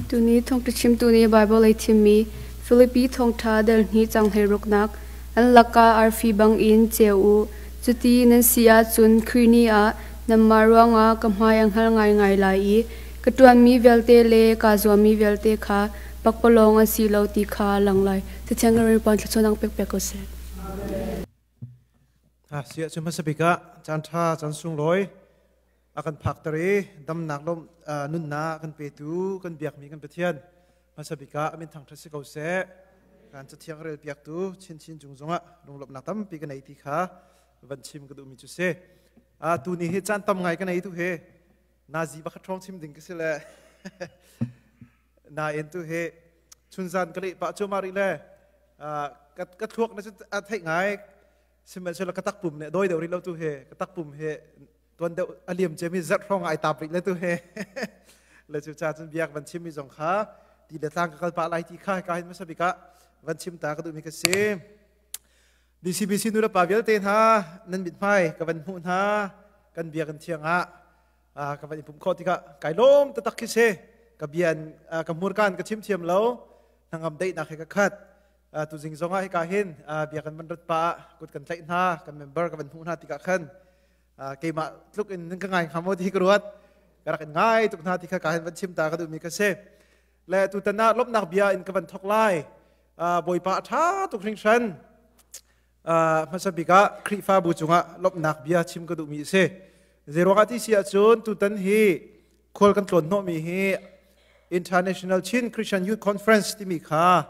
Tuni thongtla chimtu nih Baibal ei thimmi Filipi thawngṭha delhni canghhlei ruknak an lakah arfi bangin ceu u. Cuti nan si ahcun Krini ah Nanmah ruangah ka hmai a hngal ngaingai lai i ka ṭuanmi vialte le kaa zuammi vialte kha pakpalawng an si lo ti kha a lang lai. Thichiang in puan thluachuah nang pekpek u sih. Ah, siah cu hmasa bik ah caan ṭha caan sunglawi a kan phakter i damnak lawmh uh, nunnak a kan petu kan biakmi kan Pathian hmasa bik ah amin thangṭhat si ko seh. Kan cathiang rel piaktu chinchin cung zongah lunglawmhnak tampi ka nei ti kha van chim ka duhmi cu si a tu ni hi caan tam ngai ka nei tu he nazi bakhat ṭhawng chim ding ka si le nain tu he chunzan ka leh pah cu mari le ka ka thluak na a theih ngai sihmanhsehlaw ka takpum ne doi deuh rih lo tu he ka takpum he tuan deuh a liam cemi zarh hrawng ai tap rih le tu he le cu cha cun biak van chimmi zong kha ti le tlang ka kal pah lai ti kha ka hin masabika van chim ta ka duhmi ka si DCBC nulepa vialte hna nan mit hmai ka van hmuh hna kan bia kan thiang ah ka van i pumh khawh tikah kai lawm tatak khi se ka bian ka hmurkan ka chimthiam lo hnangam daihnak he ka khat tu zing zong ah hika hin bia kan van rat pa kut kan tlaih hna kan member ka van hmuh hna tikah khan keimah tluk in ka ngai hama ti ka ruat ka rak in ngai tuk hna ti kha ka hin van chim ta ka duhmi ka se le tutan ah lomhnak bia in ka van thok lai bawipa a ṭha tuk hringhran hmasa bik ah Khrihfabu cungah lomhnak bia chim ka duhmi a si zeiruangah ti si ahcun tutan hi khual kan tlawn hnawhmi hi International Chin Christian Youth Conference timi kha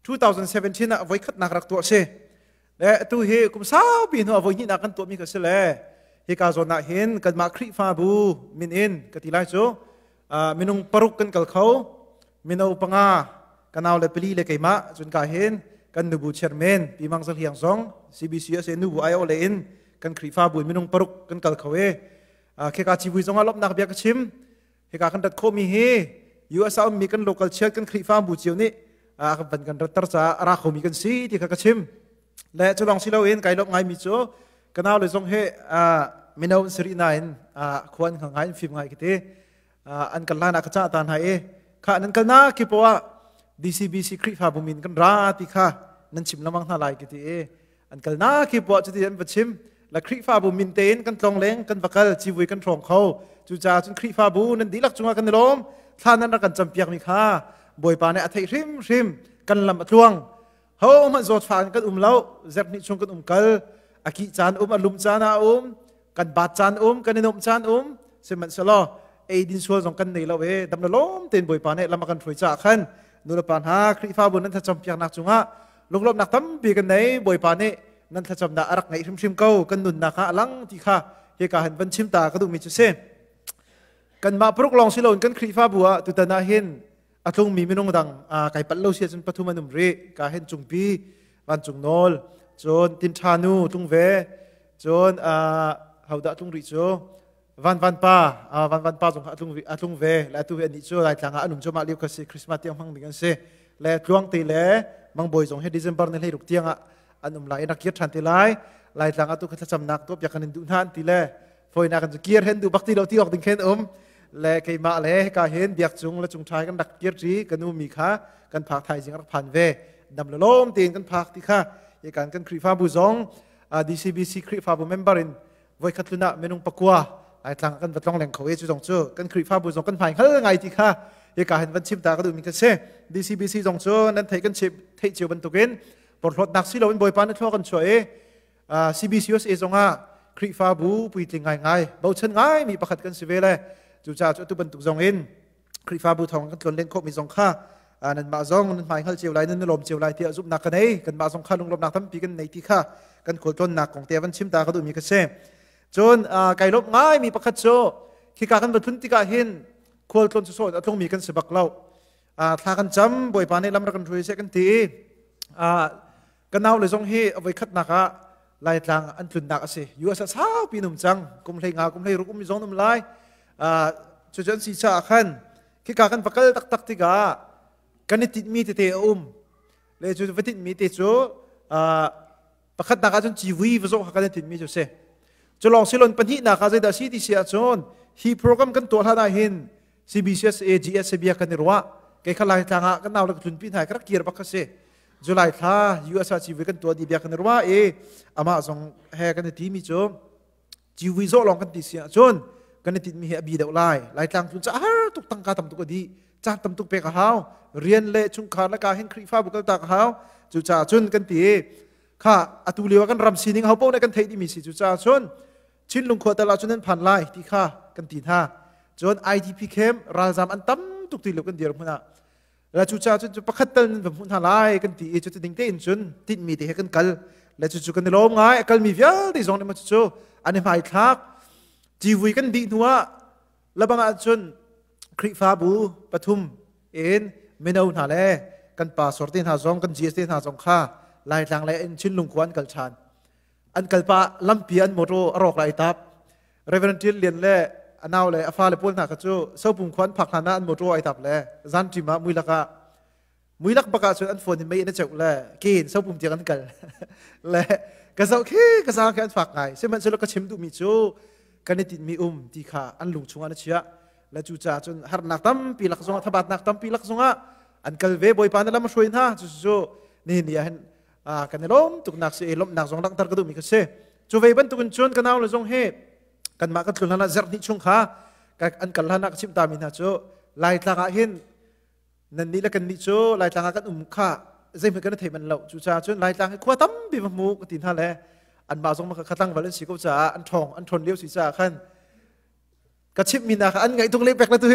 2017 ah voi khatnak rak tuah si le atu hi kum saupi hnu voi hnihnak kan tuahmi ka si le hika zawn ah hin kanmah khrihfabu min in ka ti lai cu minung paruk kan kal kho mino panga kanau le pali le keimah cun ka hin kan nubu chairman pi mang zal hiang zong CBC ase nubu ayo le in kan khrihfabu minung paruk kan kal kho e kheka civui zong a lomnak bia ka chim hika kan rat khawmi hi US a ummi kan local chiat kan Khrihfa bu cio nih a kan van kan ratter caah a ra khomi kan si ti kha ka chim le cu lawng si loin kai lop ngaimi cu kanau le zong he mino in siri nain khuan nga ngai in fim ngai kiti an kal lan ah ka ca ta hna i kha nan kal na kipo ah DCBC Khrihfa bumin kan ra ti kha nan chim lamang hna lai kiti i an kalnak hi puah cuti an va chim la Khrihfabu min tein kan tlong leng kan va kal civui kan hrawng kho cucaah cun Khrihfabu nan dihlak cungah kan i lawm thla nan rak kan campiak mi kha bawipa nih a theih hrim hrim kan lam a tluang ho hmanh zawt fa in kan um lo zep hnih chung kan um kal a kih caan um a lum caan ah um kan bat caan um kan i nuamh caan um sihmanhsehlaw eidin sual zong kan nei lo e dam lo lawm tein bawipa nih lama kan hruai caah khan nulepa hna khrihfabu nan thlacam piaknak cungah lunglawmnak tampi kan nei bawipa nih nan thlacam dah arak ngaih hrimhrim ko kan nunnak ha alang ti kha hi ka han van chim ta ka duhmi cu si kanmah paruk lawng si loin kan khrihfabu ah tutan ah hin a tlungmi minung dang kai palh lo sia cun pathum an um rih ka hen cung pi vancung nawl cun tin ṭha nu tlung ve cun haudah tlung rih cu van van pa van van pa zong a tlung a tlung ve la tu ve ani cu lai tlang anum chu ma liu khasi christmas tiang hmang ding an si le tluang te le mangboy zong he december ne hlei ruk tiang an um lai na kir ṭhan te lai lai tlang atu kha thlacamnak to pia kan in duh na an ti le foina kan cu kir hen duh bak ti lo ti awk ding khen um le keimah le ka hen biak cung le chung ṭhai kan rak kir ṭi kan u mi kha kan phak thai jing rak phan ve nam lo lom tein kan phak ti kha ye kan kan Khrihfabu zong DCBC Khrihfabu member in voi khatlun ah menung pakua ai tlang kan batlong leng kho ye cu zong cu kan Khrihfabu zong kan hmai hal ngai ti kha ye ka hen van chim ta ka du mi ka se DCBC zong cu nan thei kan chip thei chiu bantukin porhlot nak si lo in boipa na thlo kan chuai CBCUSA zongah Khrihfabu puitling ngaingai bochan ngaimi pakhat kan si ve le cucaah cu atu bantuk zong in Khrihfabu thawng kan tlawn len khawhmi zong kha nanmah zong nan hmai hngal cio lai nan lawm cio lai tiah zumhnak ka nei kanmah zong kha lunglawmnak tampi kan nei ti kha kan khualtlawnnak kong te van chim ta ka duhmi ka si cun kai lawmh ngaimi pakhat cu khika kan va tlun tikah hin khualtlawn cu sawn a tlungmi kan si bak lo thla kan cam bawipa nih lam rak kan hruai se kan ti Ka nau le zong hi avoi khatnak ah Laitlang an tlunnak a si. USA saupi num cang. Kum hlei nga, kum hlei ruk um zong num lai. Uh, cucun si cha ah khan khika kan vakal taktak tikah kan i titmi tete a um. Le cu va titmi te cu uh, pakhatnak ahcun civui va zong kan i titmi cu si. Cu lawng silon pahnih nak ah zeidah si ti si ahcun hi program kan tuah hlan ah hin CBCS AGS bia kan i ruah kei kha lai tlang ah kan nau le ka tlun pi hna ka rak kir bak si July thla USA CV kan tuah di bia kan i ruah i amah zong he kan i ti mi cu CV zo long kan ti si ahcun kan i tin mi hi a bi deuh lai lai tlang tlun ca har tuk tangka tam tuk a di ca tam tuk pek a hau rian le chungkhar le ka hin khrihfabu kal tak a hau cu ca cun kan ti kha atu lio kan ram sining ho pau ne kan thei dimi si cu ca cun Chinlung khua tal ah cun an phan lai ti kha kan ti hna. Cun IDP camp ralzam an tam tuk ti lo kan dir hmun ah la cu cha cun pakhat tal nan va hmuh hna lai kan ti i cu ding tein cun tinhmi te he kan kal la cu cu kan i lawm ngai a kalmi vialte zong nih cucu an i hmai thlak civui kan dih hnu ah labang ah cun Khrihfabu pathum in mino hna le kan pa sor te hna zong kan GS te hna zong kha Laitlang lei in Chinlung khua an kal ṭhan an kalpa lampi an motor a rawk lai tap reverend tian lian le anau le a fale pawl hna kha cu sopung kho an phak hna na an motor ai tap le zan tim ah mui laka mui lak baka cun an phone in mei in a cheu le kin sopung tiang an kal le ka zo khi ka za khi an fak ngai sihmanhsehlaw ka chim duh mi cu kan i tin mi um ti kha an lung chungah na chia le cu ca cun harnak tampi lak zongah thabatnak tampi lak zongah an kal ve bawipa na lam hruai hna cu cu ni ni ah hin a kan i lawm tuknak si ei lawmhnak zong langhter ka duhmi ka si cu ve bantukin cun ka nau le zong hi kanmah kan tlun hlan ah zerhni chung kha an kal hlan ah ka chimhtaami hna cu laitlang ah hin nan nih le kan nih cu laitlang ah kan um kha zeihmanh kan thei manh lo cucaah cun laitlang hi khua tampi ma hmu ka ti hna le anmah zong ma kha khatlang val an si ko caah an ṭhawng an ṭhawn lio si caah khan ka chimmi hna kha an ngaih tuk le pek la tu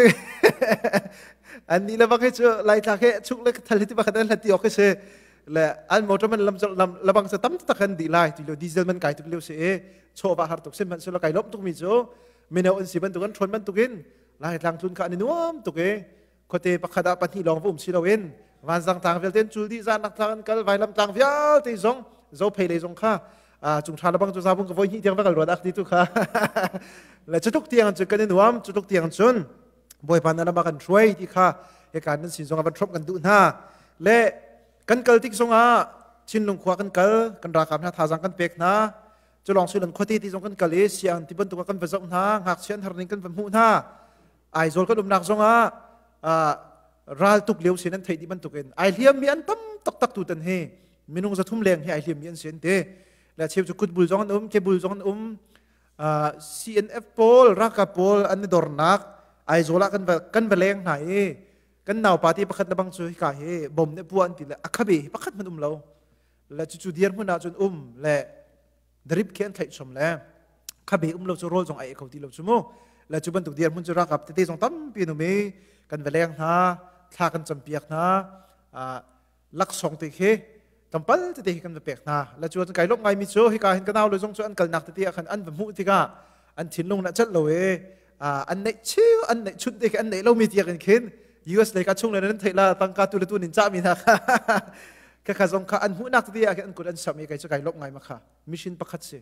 an ni le bak hi cu lai tla ke chung le thal hiti bakhan an hlati ok se le an motor man lam lam labang sa tam tak an di lai ti lo diesel man kai tuk leo se e chova har tuk sim man sula kai lom tuk mi chu mino an si ban tuk an thon man tuk in lai tlang tun ka ani nuam tuk e khuate pakhat ah pahnih lawng va um si loin vanzang tlang vialte cul dih zan tlang an kal vailam tlang vialte zong zo phei lei zong kha cung tha labang cu zabung ka voi hnih tiang va kal ruat ak ti tu kha le cutuk tiang cun kan in huam cutuk tiang cun bawipa na lama kan hruai ti kha hekan nan sin zong ban throp kan duh hna le kan kal tik zongah chinlung khua kan kal kan rakam hna thazang kan pek hna cu long suilan khuate ti zong kan kal i siang ti bantuk kan va zoh hna ngak sian har ning kan va hmuh hna Aizawl kan umnak zongah uh, raltuk lio sin an theih ti bantukin ai hliam mi an tam taktak tu tan hi minung zathum leng hi ai hliam mi an sin te la cheu cu kutbul zong an um kebul zong an um uh, CNF pawl raka pawl an dornak Aizawl ah kan va kan va leng hna i kan nau party pakhat na bang cu hika hi bom ne pu an ti le akhabe pakhat man um lo la chu chu dir hmun ah cun um le darip khe an thlaih chom le khabe um lo cu rawl zong ai kho ti lo chu mu la chu bantuk dir mun chu rakap tete zong tampi nu mi kan veleng hna thla kan cham piak hna laksong te khi tampal tete hi kan va pek hna la chu an kai lok ngai mi chu hika hin kanau lo zong chu an kalnak tete khan an va mu tika an thinlung na celh lo e an neih chiu an neih chunh te an neih lo mi tiak in khin US lei ka chung le nan theila tangka tu le tu nin cha mi na kha ka kha zong kha an hu nak ti an kut an sam i kai kai lop ngai ma kha mission pakhat si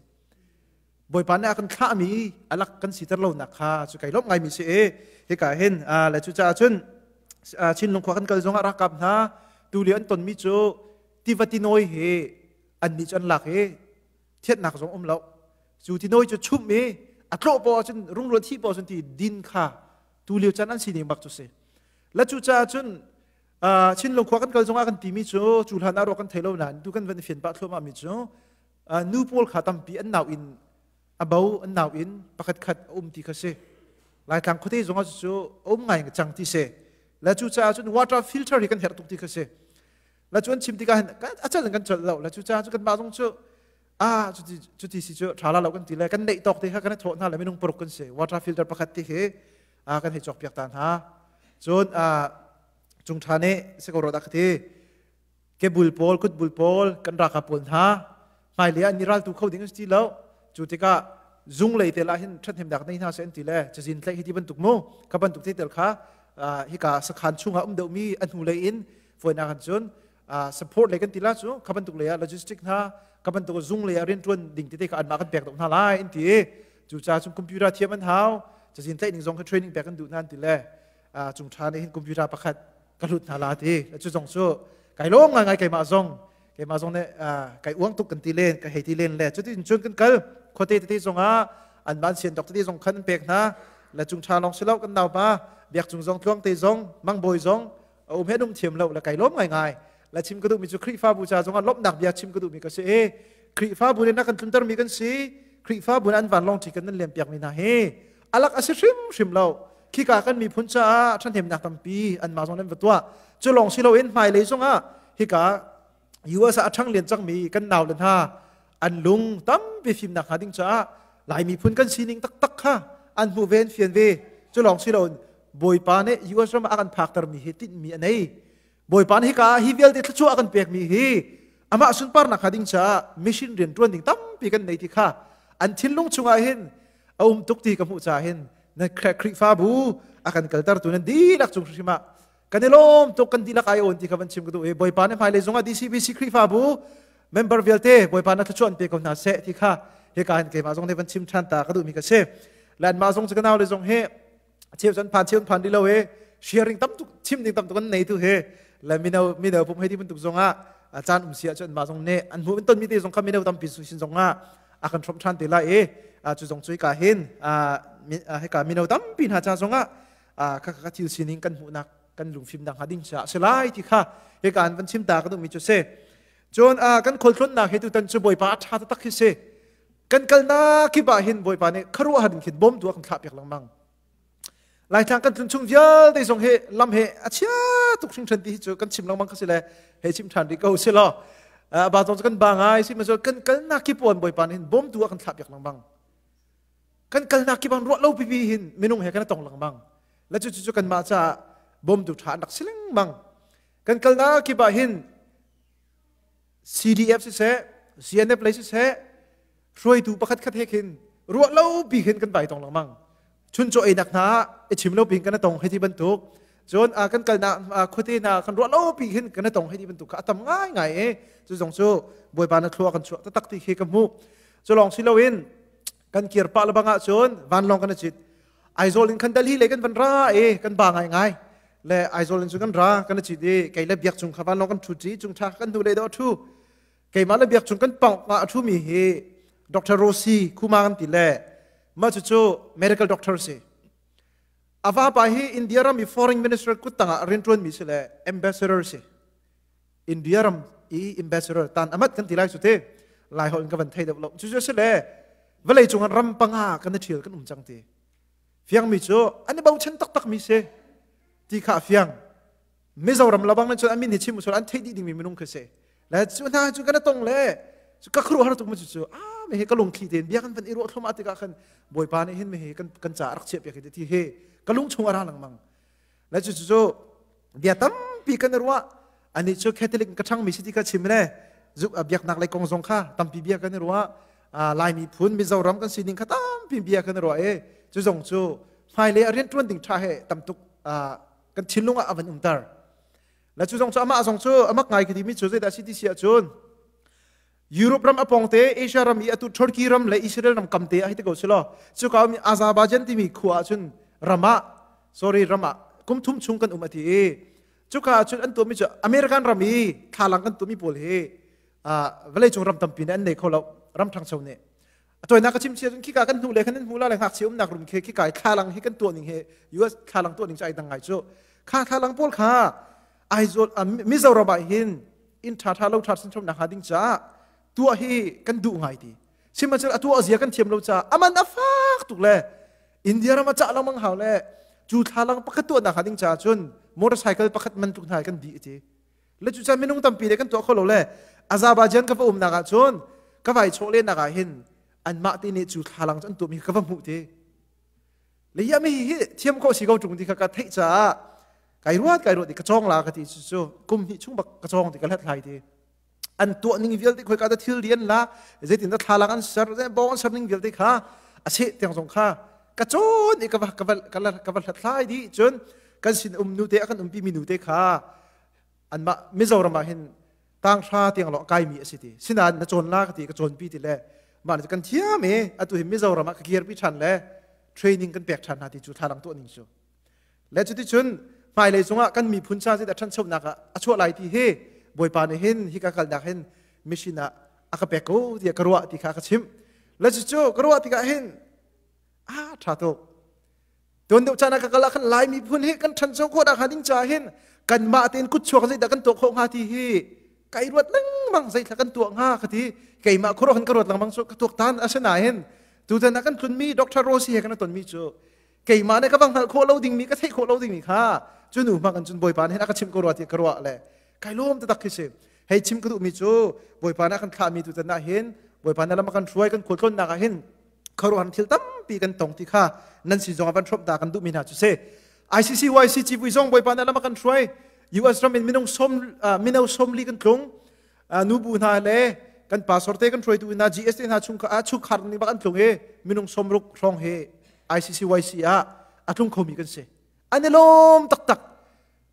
boipa ne akan thla mi alak kan sitar lo nak kha chu kai lop ngai mi si e he ka hin la chu cha chun chin lung khwa kan kal zong rak kap na tu li an ton mi chu tivatinoi he an ni chan lak he thiannak zong um lo cu ti noi cu chum i a tlawh paw cun rungruan thi paw cun ti din kha tu lio chan an sining bak cu si la cu ca cun chin lungkhua kan kal zongah kan timi cu cu hlan aro kan thei lo nain tu kan van fian pah thluama mi cu nu pawl kha tampi an nau in a bo an nau in pakhat khat um ti kha si laitlang khote zongah cu um ngai cang ti se la cu ca cun water filter hi kan her tuk ti kha si la cu an chim tikah hin a cel in kan cel lo la cu ca cu kan mah zong cu ah cuti cuti si cu tha la lo kan ti le kan neih tawk te kha kan thawh hna le minung paruk kan si water filter pakhat ti khi a kan hei cawk piak ta hna cun a cung tha nih si ko ro dak ti ke bul pawl kut bul pawl kan raka pawl hna hmailei ah ni ral tu kho ding an si ti lo cu tikah zung lei te lah hin ṭhathnem dak nei hna se an ti le cazin tlaih hi ti bantuk mu kha bantuk te tel kha hika sakhan chungah um deuhmi a hnu lei in foinak an cun support lei kan ti la cu kha bantuk lei ah logistic hna ka bantuk zung lei ah rianṭuan ding tete ka anma kan pek dok hna lai an ti cu ca cung computer thiam an hau cazin tlaih ning zong kha training pek kan duh nan ti le chung ṭha ne hin computer pakhat ka hlut hna la ti cu zong cu kai lawng ngai ngai keimah zong keimah zong nih kai uang tuk kan ti len ka hei ti len le cutin cun kan kal khuate tete zongah an van sian dok tete zong khan an pek hna la chung tha long silo kan nau pa biak cung zong tluang te zong mang boi zong um he num thiam lo la kai lom ngai ngai la chim ka du mi cu khrifa bu cha zongah lomnak bia chim ka du mi ka si e khrifa bu ne na kan tlunter mi kan si khrifa bu an van long chi kan nan lem piak mi na he alak asi hrim hrim lo khi ka kan mi phun cha than hem nak tampi an ma zong lem tua cu long silo in mai le zongah hika US ah a ṭhang len cangmi kan nau le hna an lung tampi fimnak hnga ding caah Lai miphun kan sining taktak kha an hmu ve an fian ve cu lawng si lo bawipa nih US ram ah a kan phaktermi hi tinhmi a nei bawipa nih hika hi vialte thluachuah a kan pekmi hi amah sunparnak hnga ding caah mission rian ṭuan ding tampi kan nei ti kha an thinlung chungah hin a um tuk ti ka hmuh ca hin na Khrihfabu a kan kaltertu nan dihlak cung hrim ah kan i lawm tuk kan dihlak ai awn ti kha van chim ka duh i bawipa ne hmailei zongah DCBC Khrihfabu member vialte bawipa na thluachuah an pe ko hna seh ti kha hika hin keimah zong nih van chim ṭhan ta ka duhmi ka si lanmah zong cu ka nau le zong hi cheu cun phan cheu phan rih lo i sharing tam tuk chim ding tam tuk an nei tu hi la mino mino pum hei ti bantuk zongah caan um si ahcun mah zong nih an hmu in tonmi te zong kha mino tampi sin zongah a kan ṭhawm ṭhan te lai i cu zong cu hika hin hika mino tampi hna ca zongah ka thil sining kan hmuhnak kan lungfimnak hnga ding caah si lai ti kha hi kan van chimta ka duhmi cu si cun kan khualtlawnnak he tutan cu bawipa a ṭha taktak hi si kan kalnak kip ah hin bawipa nih kharuahhar in khin bawm tua kan thlahpiak lengmang laitlang kan tlun chung vialte zong he lam he a chia tuk hringhren ti hi cu kan chim lengmang ka si le he chim ṭhan rih ko si law ba zong kan ba ngai si ma cu kan kalnak kip puan bawipa nih hin bawm tua kan thlahpiak lengmang kan kalnak kip an ruah lo pipi hin minung he kan i tong lengmang la cu cu kanmah caah bawmtu ṭha an rak si lengmang kan kalnak kip ah hin CDF siseh CNF lei siseh hruaitu pakhat khat he khin ruah lo pi khin kan vai tong lengmang chun chaw einak hna i chim lo pin kan tong hei ti bantuk cun a kan kalnak khuate hna kan ruah lo pi hin kan tong hei ti bantuk kha a tam ngai ngai e cu zong cu bawipa na thlua kan chuah taktak ti khi ka hmuh cu lawng si loin kan kir pah le bang ah cun vanlong kan i cit Aizawl in khan Delhi le kan van ra e kan ba ngai ngai le Aizawl in cu kan ra kan i cit i kei le biak cung kha vanlong kan thu ṭi chung ṭha kan hnu le dawh thu keimah le biak cung kan pawng nga a ṭhumi hi Dr. Rosi Kuma kan ti le mah cucu medical doctor si ava pa hi India ram i foreign minister kut tangah rianṭuanmi si le ambassador si India ram i ambassador tan amat kan ti lai su te lai ho in ka van thei deuh lo cu cu le vale cung an ram panga kan i ṭhial kan um cang ti fiang mi cu an i bochan taktak mi si ti kha fiang Mizoram labang cun amin hi chim usur an thei dih dingmi minung khi si le cu hna cu kana tong le cu ka khru har tuk ma cu cu a me he ka lungthli ten bia kan van i ruah thlum atika khan bawipa nih hin me he kan kan ca rak chia piak hi ti hi ka lung chung ara lang mang na cu cu bia tampi kan ruah anih cu catholic ka ṭhangmi si ti ka chim le zuk biaknak lei kong zong kha tampi bia kan i ruah laimi phun mizoram kan sining kha tampi bia kan i ruah i cu zong cu hmailei a rianṭuan ding ṭha he tamtuk kan thinlung ah a van umter la cu zong cu amah zong cu amak ngai ka timi cu zeidah si ti si ahcun Europe ram apongte Asia ram i atu Turkey ram le Israel ram kamte ai te ko silo cuka mi Azerbaijan timi khua ah cun ramah sorry ramah kumthum chung kan um ati i cuka ah cun an tu mi cu American ram i thlalang kan tu mi pawl hi vawlei cung ram tampi nih an nei kho lo ram ṭhangcho nih a toinak ka chim chia cun khika kan hnu le kan hmu la le ngakchia umnak rum khi khika i thlalang hi kan tuah ning hi US thlalang tuah ning cu ai dang ngai cu kha thlalang pawl kha Aizawl Mizoram ah hin in tha tha lo tha sin chom nak ha ding ca tuah hi kan duh ngai ti simachal atuah zia kan thiam lo ca aman afak tuk le India ram cha lang mang hau le cu thlalang pakhat tuah nak ha ding ca cun motorcycle pakhat man tuk hna kan di ti le cucan minung tampi nih kan tuah kho lo le azerbaijan ka va umnak ah cun ka vai chawhlennak ah hin anmah ti nih cu thlalang cu an tum hi ka va hmuh ti le hiam hi hi thiam khawh si ko ṭung ti kha ka theih caah kai ruat kai ruat ti ka cawng la ka ti cu cu kum hnih chung bak ka cawng ti ka hlathlai ti an tuah ning vialte khoi ka ta thil rian la zeitin da thlalang an ser ze bong an ser ning vialte kha ase tiang zong kha ka cawn i ka va ka va ka va hlathlai di cun kan sin um nu te akan umpi mi nu te kha anmah mizoram ah hin tanghra tiang lo kaimi a si ti sinain na cawn la ka ti ka cawnpi ti le mah ne kan thiam i atu hin mizoram ah ka kirpi ṭhan le training kan pek ṭhan hna ti cu thla dang tuah ning cu le cuti cun hmailei cungah kan miphun sa zit a ṭhanchonak ah a chuah lai ti hi bawipa nih hin hi ka kalnak hin mission ah a ka pek ko tiah ka ruah ti kha ka chimh le cucu ka ruah tikah hin a ṭha tuk Tuan deuh caan ah ka kal ah khan Lai miphun hi kan ṭhancho khawh dah hnga ding ca hin kanmah tein kutchuak zeidah kan tuah khawh hnga ti hi kai ruat lengmang zeithla kan tuah hnga ka ti keimah khuaruah khan ka ruat lengmang cu ka tuak tan asinain tutan ah kan tlunmi Dr. Rossi he kan ton mi cu keimah nih ka va hngalh khawh lo dingmi ka theih khawh lo dingmi kha cu nu hma kan cun bawipa nih hin a ka chimh ko rua ti ka ruah le kai lawm tatak khi si hei chim ka duhmi cu bawipa nih a kan thlahmi tutan ah hin bawipa nih lam a kan hruai kan khualtlawnnak ah hin khuaruahhar thil tampi kan tong ti kha nan sin zongah van hrawmh ta kan duhmi hna cu si ICC YC civui zong Bawipa nih lam a kan hruai US ram in minung som mino somli kan tlung nu bu hna le kan pastor te kan hruaitu hna GSA hna chung chungkhar ning bak an tlung i minung somruk hrawng he ICC YC ah a tlung khomi kan si an i lawm taktak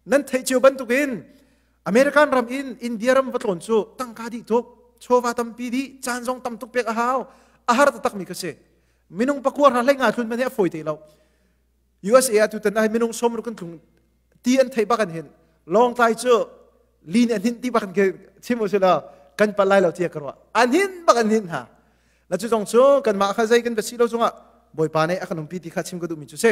nan theih cio bantukin American ram in India ram va tlawn cu tangka dih tuk chawva tampi dih caan zong tam tuk pek a hau a har taktak mi ka si minung pakua ra hlei nga hlun man hi a foi te lo USA a tu tan ai minung som ru kan tung ti an thei bakan hin long tlai cu li ne hlin ti bakan ke chim usila kan palai lo tia karwa an hin bakan hin ha na cu zong cu kanmah kha zei kan va si lo zongah bawipa nih a kan umpi ti kha chim ka duhmi cu si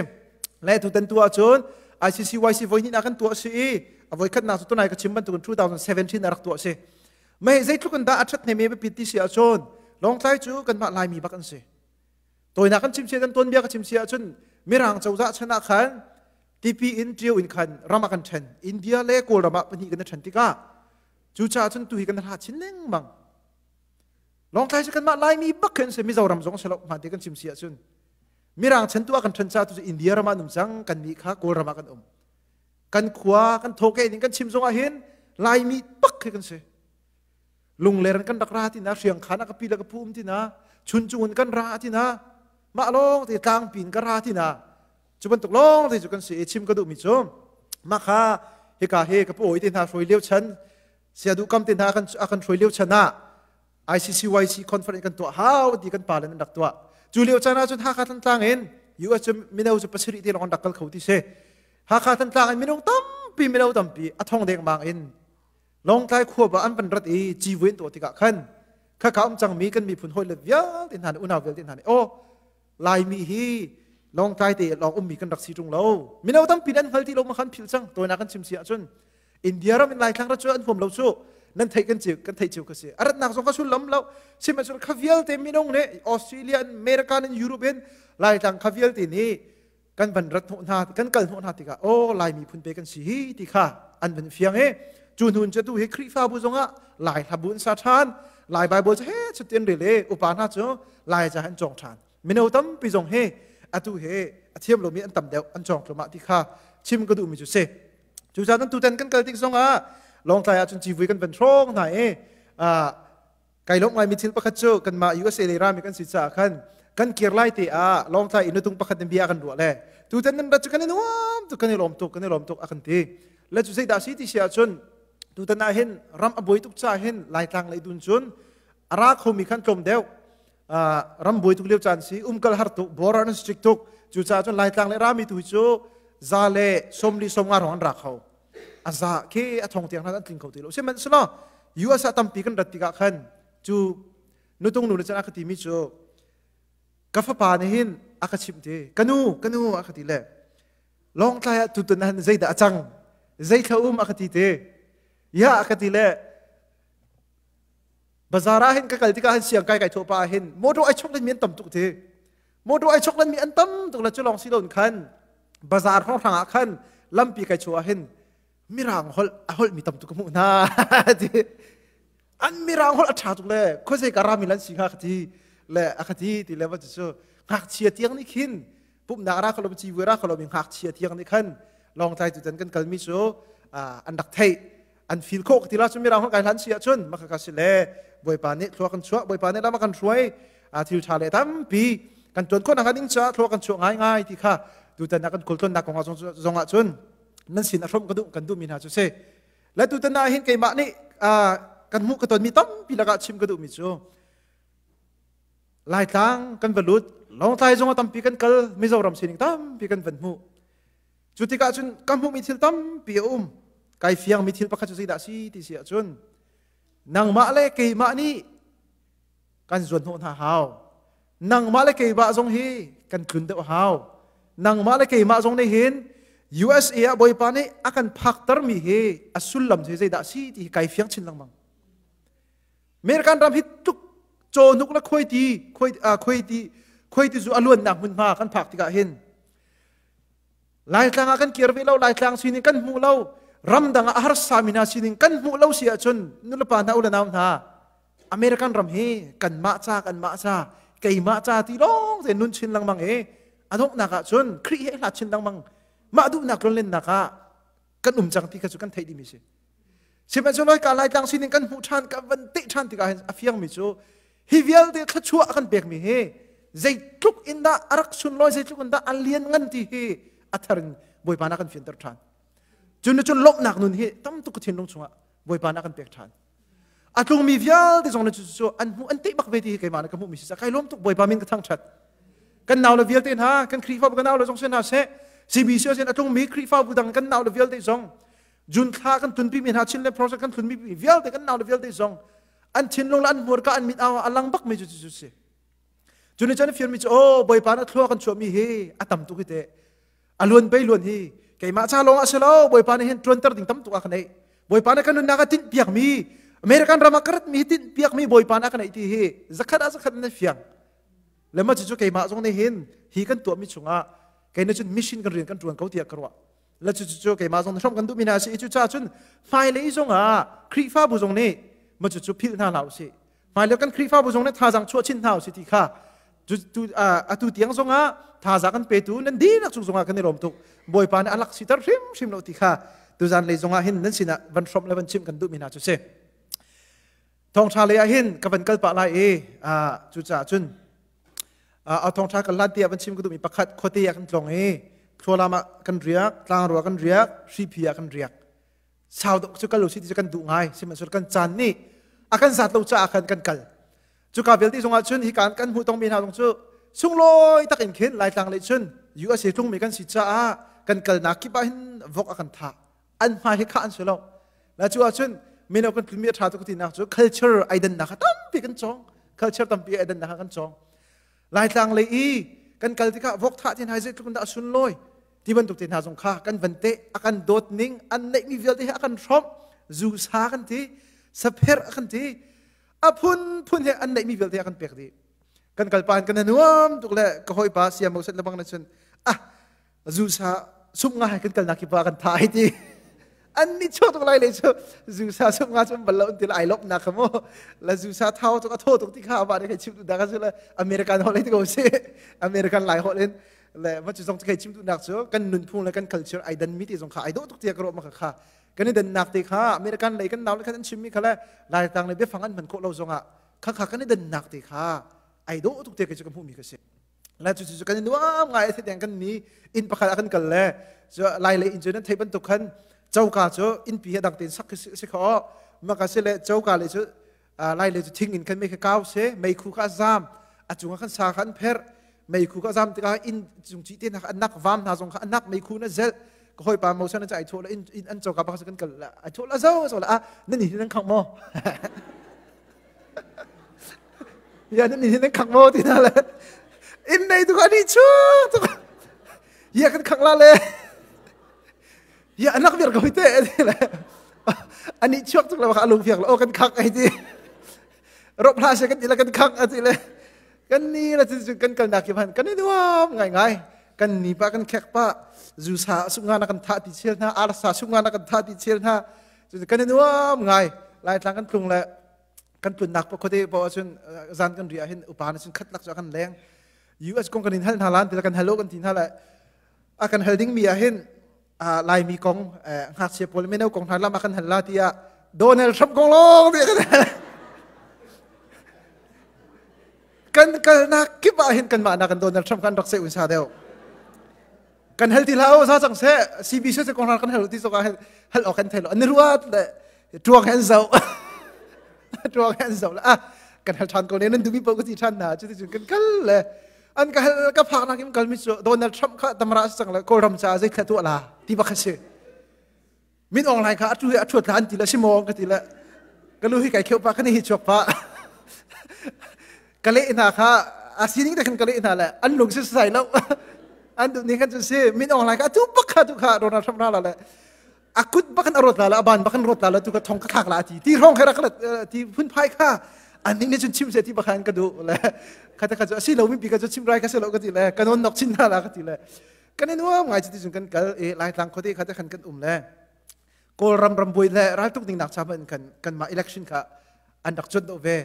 le tu tan tu ahcun ICCYC voi hnih ah kan tuah si i a voi khatnak cu tunai ka chim bantukin 2017 a rak tuah si mei zeitluk in dah a ṭhat hnemem pit ti si ahcun longtlai cu kanmah laimi bak an si tawinak kan chimchia kan tuanbia ka chimchia ahcun mirang cozah chan ah khan tipi in ṭio in khan ram ah kan ṭhen india le kawlram ah pahnih kan ṭhen tikah cucaah cun tu hi kan hla chin lengmang Lawngtlai cu kanmah Laimi bak khin si Mizoram zong si lo hma te kan chim si ahcun Mirang chan tu ah kan ṭhan ca tu India ram ah an um cang kan nih kha Kawlram ah kan um kan khua kan thawke ning kan chim zong ah hin Laimi bak khi kan si lungler in kan rak ra tina hriang khan a ka pi le ka phu um tina chun cung in kan ra tina mah lawng te tlangpi in ka ra tina cu bantuk lawng te cu kan si i chim ka duh mi cu mah kha hika he ka pawi te hna hruai leo chan Siadu kam te hna kan a kan hruai lio chan ah ICCYC conference kan tuah hau ti kan pa le an rak tuah cu lio chan ah cun Hakha Thantlang in US cu mino cu pasarih te lawng rak kal kho ti si Hakha Thantlang in minung tampi mino tampi a thong deng bang in Lawngtlai khua ba an pan rat i civuin tuah tikah khan khaka um cangmi kan miphun hawi le vialte hna le unau vialte hna nih aw Laimi hi Lawngtlai te lawng ummi kan rak si ṭung lo. Mino tampi an hngal ti lo ma khan philh cang. Tawinak kan chim si ahcun India ram in Laithlang rat cu an huam lo cu nan theih kan ceu kan theih ceu ka si. A ratnak zong ka sullam lo. Sihmanh cun kha vialte minung nih Australia in America in Europe in Laitlang kha vialte nih kan van rat hnawh hna kan kal hnawh hna tikah aw laimi phun pe kan si hi ti kha an van fiang e cu nun cu tu hi khrihfabu zongah lai hlabu in sa ṭhan lai bible cu he chutin rel e upa hna cu lai ca an cong ṭhan mino tampi zong he atu he a thiam lomi an tam deuh an cong tlumah ti kha chim ka duhmi cu se cu caan tutan kan kal tik zongah lawngtlai ahcun civui kan van hrong hna e Kai lawm ngai mi thil pakhat cu kanmah USA le rami kan si caah khan kan kir lai te ah Lawngtlai in nutung pakhat in bia kan ruah le tutan nan rat cu kan i nuam tuk kan i lawm tuk kan i lawm tuk a kan ti le cu zeidah si ti si ahcun tutan ah hin ram a buai tuk ca hin laitlang lei dun cun a ra khomi khan tlawm deuh ram buai tuk lio caan si umkal har tuk border an si tuk cu caah cun laitlang le rami tu hi cu za le somli somnga rong an ra kho a za ke a thong tiang hlan an tling kho ti lo sihmanhselaw US ah tampi kan rat tikah khan cu nutung nu le chan aka ti mi cu ka fapa nih hin aka chimh ti ka nu ka nu aka ti le long tlai ah tutun han zeidah a cang zei thla um aka ti te ya aka ti le bazar ah hin ka kal tikah hin siang kai kai thuah pa ah hin motor ai chok nan mi an tam tuk ti motor ai chok nan mi an tam tuk la cu lawng si loin khan bazar hrawnghrang ah khan lampi kai chuah ah hin mirang holh a holh mi tam tuk ka hmuh hna ti an mirang holh a ṭha tuk le khuazei ka rami lan si hnga ka ti le a ka ti ti le va cu ngakchia tiang nih khin pumhnak ra kholom ci vuira kholom i ngakchia tiang nih khan lawngtlai tu can kan kalmi cu an rak theih an feel khawh ka ti la cu mirang kan kai hlan si ahcun maka ka si le bawipa nih thluak kan chuah bawipa nih lama kan hruai a thil tha le tampi kan tuan khawh nak ding caah thluak kan chuah ngai ngai ti kha tutan nak kan kul ton nak kong zong ah cun nan sin a hrom ka duh kan duh mi hna cu si la tutan na hin keimah nih kan mu ka ton mi tampi laka chim ka duh mi cu laitlang kan va lut longtlai zong a tampi kan kal mizoram sining tampi kan van hmu Cu tikah cun ka hmuhmi thil tampi a um. Kai fiangmi thil pakhat cu zeidah a si ti si ahcun nangmah le keimah nih kan zuanhnawh hna hau. Nangmah le keimah zong hi kan tlun deuh hau. Nangmah le keimah zong nih hin USA ah Bawipa nih a kan phaktermi hi a sullam cu zeidah a si ti hi kai fiang chin lengmang. American ram hi tluk cawhnuk le khuaiti khuaiti, uh, khuaiti, khuaiti cu a luannak hmunhma kan phak tikah hin Laitlang ah kan kir ve lo, Laitlang sining kan hmu lo. Ramdang ah a harsa mi hna sining kan hmuh lo si ahcun nulepa hna ulanau hna American ram hi kanmah ca kanmah ca keimah ca ti lawng te nun chin lengmang i a donghnak ahcun Khrih he hlat chin lengmang mah duhnak ronlennak ah kan um cang ti kha cu kan theih dihmi si sihmanhsehlaw ka laitlang sining kan hmuh ṭhan ka van teh ṭhan tikah hin a fiangmi cu hi vialte thluachuah a kan pekmi hi zeitluk in dah a rak sunlawi zeitluk in dah a lian ngan ti hi a thar in bawipa na kan fianter ṭhan cun cun lawmhnak nun hi tam tuk thinlung chungah bawipa na kan pek ṭhan a tlungmi vialte zong le cu an hmuh an tei bak ve ti hi keimah ka hmuh mi si kai lawm tuk bawipa min ka thangthat kan nau le vialte hna kan khrihfabu kan nau le zong si hna seh CBC sin a tlungmi khrihfabu dang kan nau le vialte zong jun thla kan tunpi mi hna chin le process kan tunpi mi vialte kan nau le vialte zong an thinlung le an hmurka an mit awa a lang bak mi cu cu si cuni chan fian mi cu o bawipa na thlua kan chuah mi hi a tam tuk hi te a luan pei luan hi keimah ca lawng ah si lo bawipa nih hin ṭuanter ding tam tuk a ka neih bawipa nih ka nunnak a tinh piak mi American ram ah ka rat mi tinh piak mi bawipa nih a ka neih ti hi zakhat ah zakhat na fiang le ma cucu keimah zong nih hin hi kan tuah mi chungah kei na cun mission kan rian kan ṭuan ko tiah ka ruah le cucu cu keimah zong hrom kan duh mi hna si i cu ca cun hmailei zongah Khrihfabu zong nih ma cucu philh hna hlah u sih hmailio kan Khrihfabu zong nih thazaang chuah chin hna usih ti kha atu tiang zongah thazaang kan petu nan dinak cung zongah kan i rom tuk bawipa nih a lak siter hrimhrim lo ti kha tuzan lei zongah hin nan sinah van hrom le van chimh kan duhmi hna cu si thawngṭha lei ah hin ka van kal pah lai i cucaah cun a thawngṭha kan lan tiah van chim ka duhmi pakhat khuate ah kan tlong i khlualam ah kan riak tlangrua kan riak hriphi ah kan riak sau tuk cu kal u si ti cu kan duh ngai sihmanhsehlaw kan caan nih a kan sat lo caah khan kan kal cuka vialte cungah cun hi kan kan hmuh tongmi hna zong cu sunglawi tak in khin laitlang lei cun USA tlungmi kan si caah kan kalnak kip ah hin vok a kan tha an hmai hi khah an si lo la cu ah cun mino kan tlumi a tha tuk tinak cu culture aidannak kha tampi kan cong culture tampi aidannak kha kan cong Laitlang lei i kan kal tikah vok thah te hna hi zeitluk in dah a sunlawi ti bantuk te hna zong kha kan van teh a kan dawt ning an neihmi vialte hi a kan hrawmh zusa kan ti sapher a kan ti a phunphun he an neihmi vialte a kan pek dih kan kalpa in kan nuam tuk le ka hawipa siamo set lebang na chun ah zusa sum nga hai kan kalnak kipa kan tha ai ti an ni cho tuk lai le chu zusa sum nga cun bal lo til ai lop nak kamo la zusa thau tuk atho tuk ti kha ba de khai chim tu da ka chu la american hol ti ko si american lai hol in le ma chu zong khai chim tu nak chu kan nun phung le kan culture ai dan mi ti zong kha ai do tuk tia kro ma kha kha kan i dan nak te kha american lei kan naw le kan an chim mi kha le lai tang le bia fang an man ko lo zong a kha kha kan i dan nak te kha ai do tuk te ke chu ka mu mi ka si lai cu cu kan i nuam ngai ase tiang kan ni inn pakhat ah kan kal le cu lai le inn cu nan thei bantuk khan choka cu innpi he dang tein sak si kho maka si le choka le cu lai le cu thing in khan mei kha kau se mei khu kha zam a cungah khan sa kha an pherh mei khu kha zam tikah inn cung ci te an nak vam hna zong kha an nak mei khu na zel ka hoi pa mo san na ai tho la in in an choka pa kan kal ai tho la zo zo la a nan hi nan khang mo ya nan nih nan khak mo ti na le in nei tu ka ni chu tu ya kan khak la le ya anak vir ko te ti le ani chuak tuk la ka alung fiak la o kan khak ai ti rop hla se kan ila kan khak ati le kan ni la tin kan kal na ki man kan ni nuam ngai ngai kan ni pa kan khek pa zu sa sunga na kan tha ti chel na arsa sunga na kan tha ti chel na Cucu kan i nuam ngai. Laitlang kan tlung le kan tlunnak pa khote pa ahcun zan kan ri ahhin upa na cun khat lak cu a kan leng. US kong kan in hal hna lan tila kan halo kan ti hna le a kan hal ding mi ahhin Laimi kong ngakchia pawl meno kong hna lam a kan hal la tiah Donald Trump kong lawng nih kan hal. kan kalnak kip ahhin kanmah nak kan Donald Trump kan rak se unsa deuh. kan hel ti hlah sa sang se CB se se kohnar kan hel ti soka hel hel ok kan thelo an ru at le tuang hen zo tuang hen zo la kan hel than ko ne nan dumi po ko ti than na chu ti chun kan kal le an ka hel ka phak na kim kal mi chu Donald Trump kha tamra sang le kol ram cha zai thatu la ti ba kha si mit ong lai kha atu hi a thuat hlan ti le si maw ka ti le ka lu hi kai kheu pa kan hi chuak pa ka le hna kha a sining te khan ka le hna le an lung si sai lo an du ni kan chun si min ong lai ka tu pak kha tu kha ronald trump na la le a kut bakan arot la le aban bakan rot la le tu ka thong ka khak la ti ti rong khera ti phun phai kha an ning ni chun chim se ti bakhan ka du le kha ta ka chu asi lo mi pi ka chu chim rai ka se lo ka ti le kanon nok chin na la ka ti le kan in uam ngai cuti cun kan kal i laitlang khuate kha te khan kan um le kawlram rambuai le raltuk ding nak chama in kan kanmah election kha an rak cuan do ve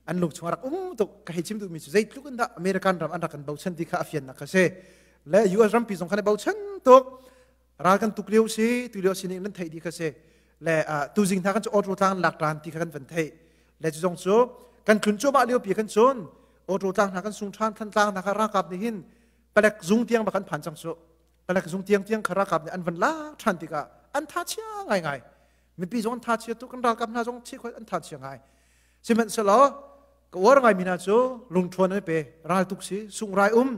an lung chung rak um tuk ka hei chim duhmi cu zeitluk in dah american ram an rak kan bochan ti kha a fian nak ka si le us rampi zong khan i bochan tuk ral kan tuk lio si tu lio si nih nan thei di kha si le tu zing hna kan cu otro tlang lak ran ti kha kan van thei le cu zong cu kan tlun chua ma lio pi kan chun otro tlang hna kan sung than than tlang hna kha rakap nih hin palek zung tiang bak an phan cang su palek zung tiang tiang kha rakap nih an van la than tikah an tha chia ngai ngai mipi zong an tha chia tu kan ralkap hna zong thi khoi an tha chia ngai sihmanhselaw ka war ngai mi hna cu lungthuan an pe ral tuk si sung rai um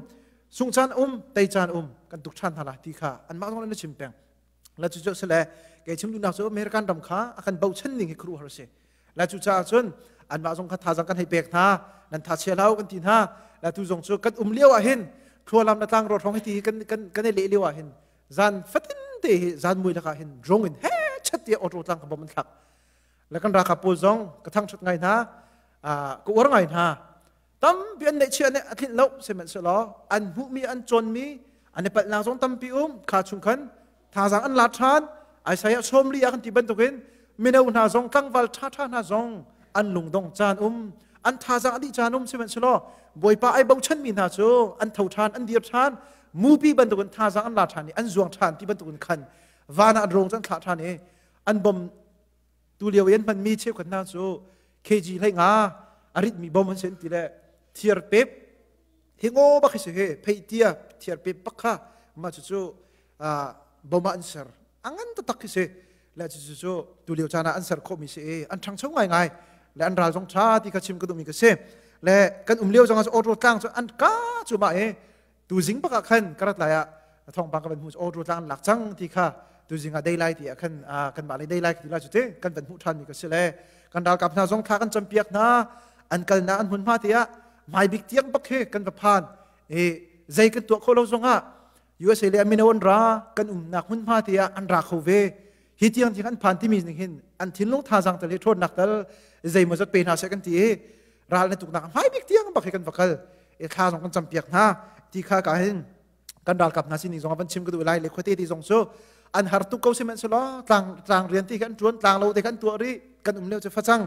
sung chan um tei chan um kan tuk than hna la ti kha an mah zong an chim peng la cu cu sele ke chim dunak cu american ram kha akan bochan ning hi kru har si la cu cha cun an ma zong kha thazang kan hei pek hna nan tha chia lau kan ti hna la tu zong cu kan um liao ah hin thlualam na tlang ro thong hi kan kan kan le liao ah hin zan fatin te hi zan mui laka hin drong in he chat tia auto tlang ka bom an thlak la kan ra ka pol zong ka thang chut ngai na a ku war ngai na tampi an neihchia nih a tlinh lo sihmanhsehlaw an hmuhmi an cawnmi an i palhnak zong tampi um kha chung khan thazang an la ṭhan Isaiah sawm li ah kan ti bantukin mino hna zong tlangval ṭhaṭha hna zong an lungdong caan um an thazang a dih caan um sihmanhsehlaw bawipa ai bochanmi hna cu an tho ṭhan an dir ṭhan mupi bantukin thazang an la ṭhan i an zuang ṭhan ti bantukin khan van ah an rong cu an thlah ṭhan i an bom tulio i an hmanmi cheukhat hna cu KG hlei nga a ritmi bom an sen ti le thiar pep hi ngo bak hi si he phei tia thiar pep bak kha ma cu cu bom ah an ser a ngan tatak hi si le cucu cu tulio caan ah an ser khawhmi si i an ṭhangcho ngaingai le an ral zong ṭha ti kha chim ka duhmi ka si le kan um lio zong ah auto tlang cu an ka cu ma e tuzing bak ah khan karat lai ah thongpang ka van hmu auto tlang lak cang ti kha tuzing ah daylight ti ah khan kan mah le daylight ti la cu te kan van hmu than mi ka si le kan ralkap hna zong thla kan campiak hna an kal na an hmun ma ti ah mai bik tiang bak he kan va phan e zai kan tuah kho lo zong ah USA le amino an ra kan um nak hmun ma ti ah an ra kho ve hi tiang ti kan phan timi ning hin an thinlung thazang tal hi ṭhawnnak tal zeimah zat pe hna seh kan ti i ral na tuknak hmai bik tiang bak hi kan va kal e thla zong kan campiak hna ti kha ka hin kan ralkap hna sin zong van chim ka duh lai le khote ti zong su an har tuk ko simen selo tlang tlang rian ti kan tuan tlang lo te kan tua ri kan um leo che facang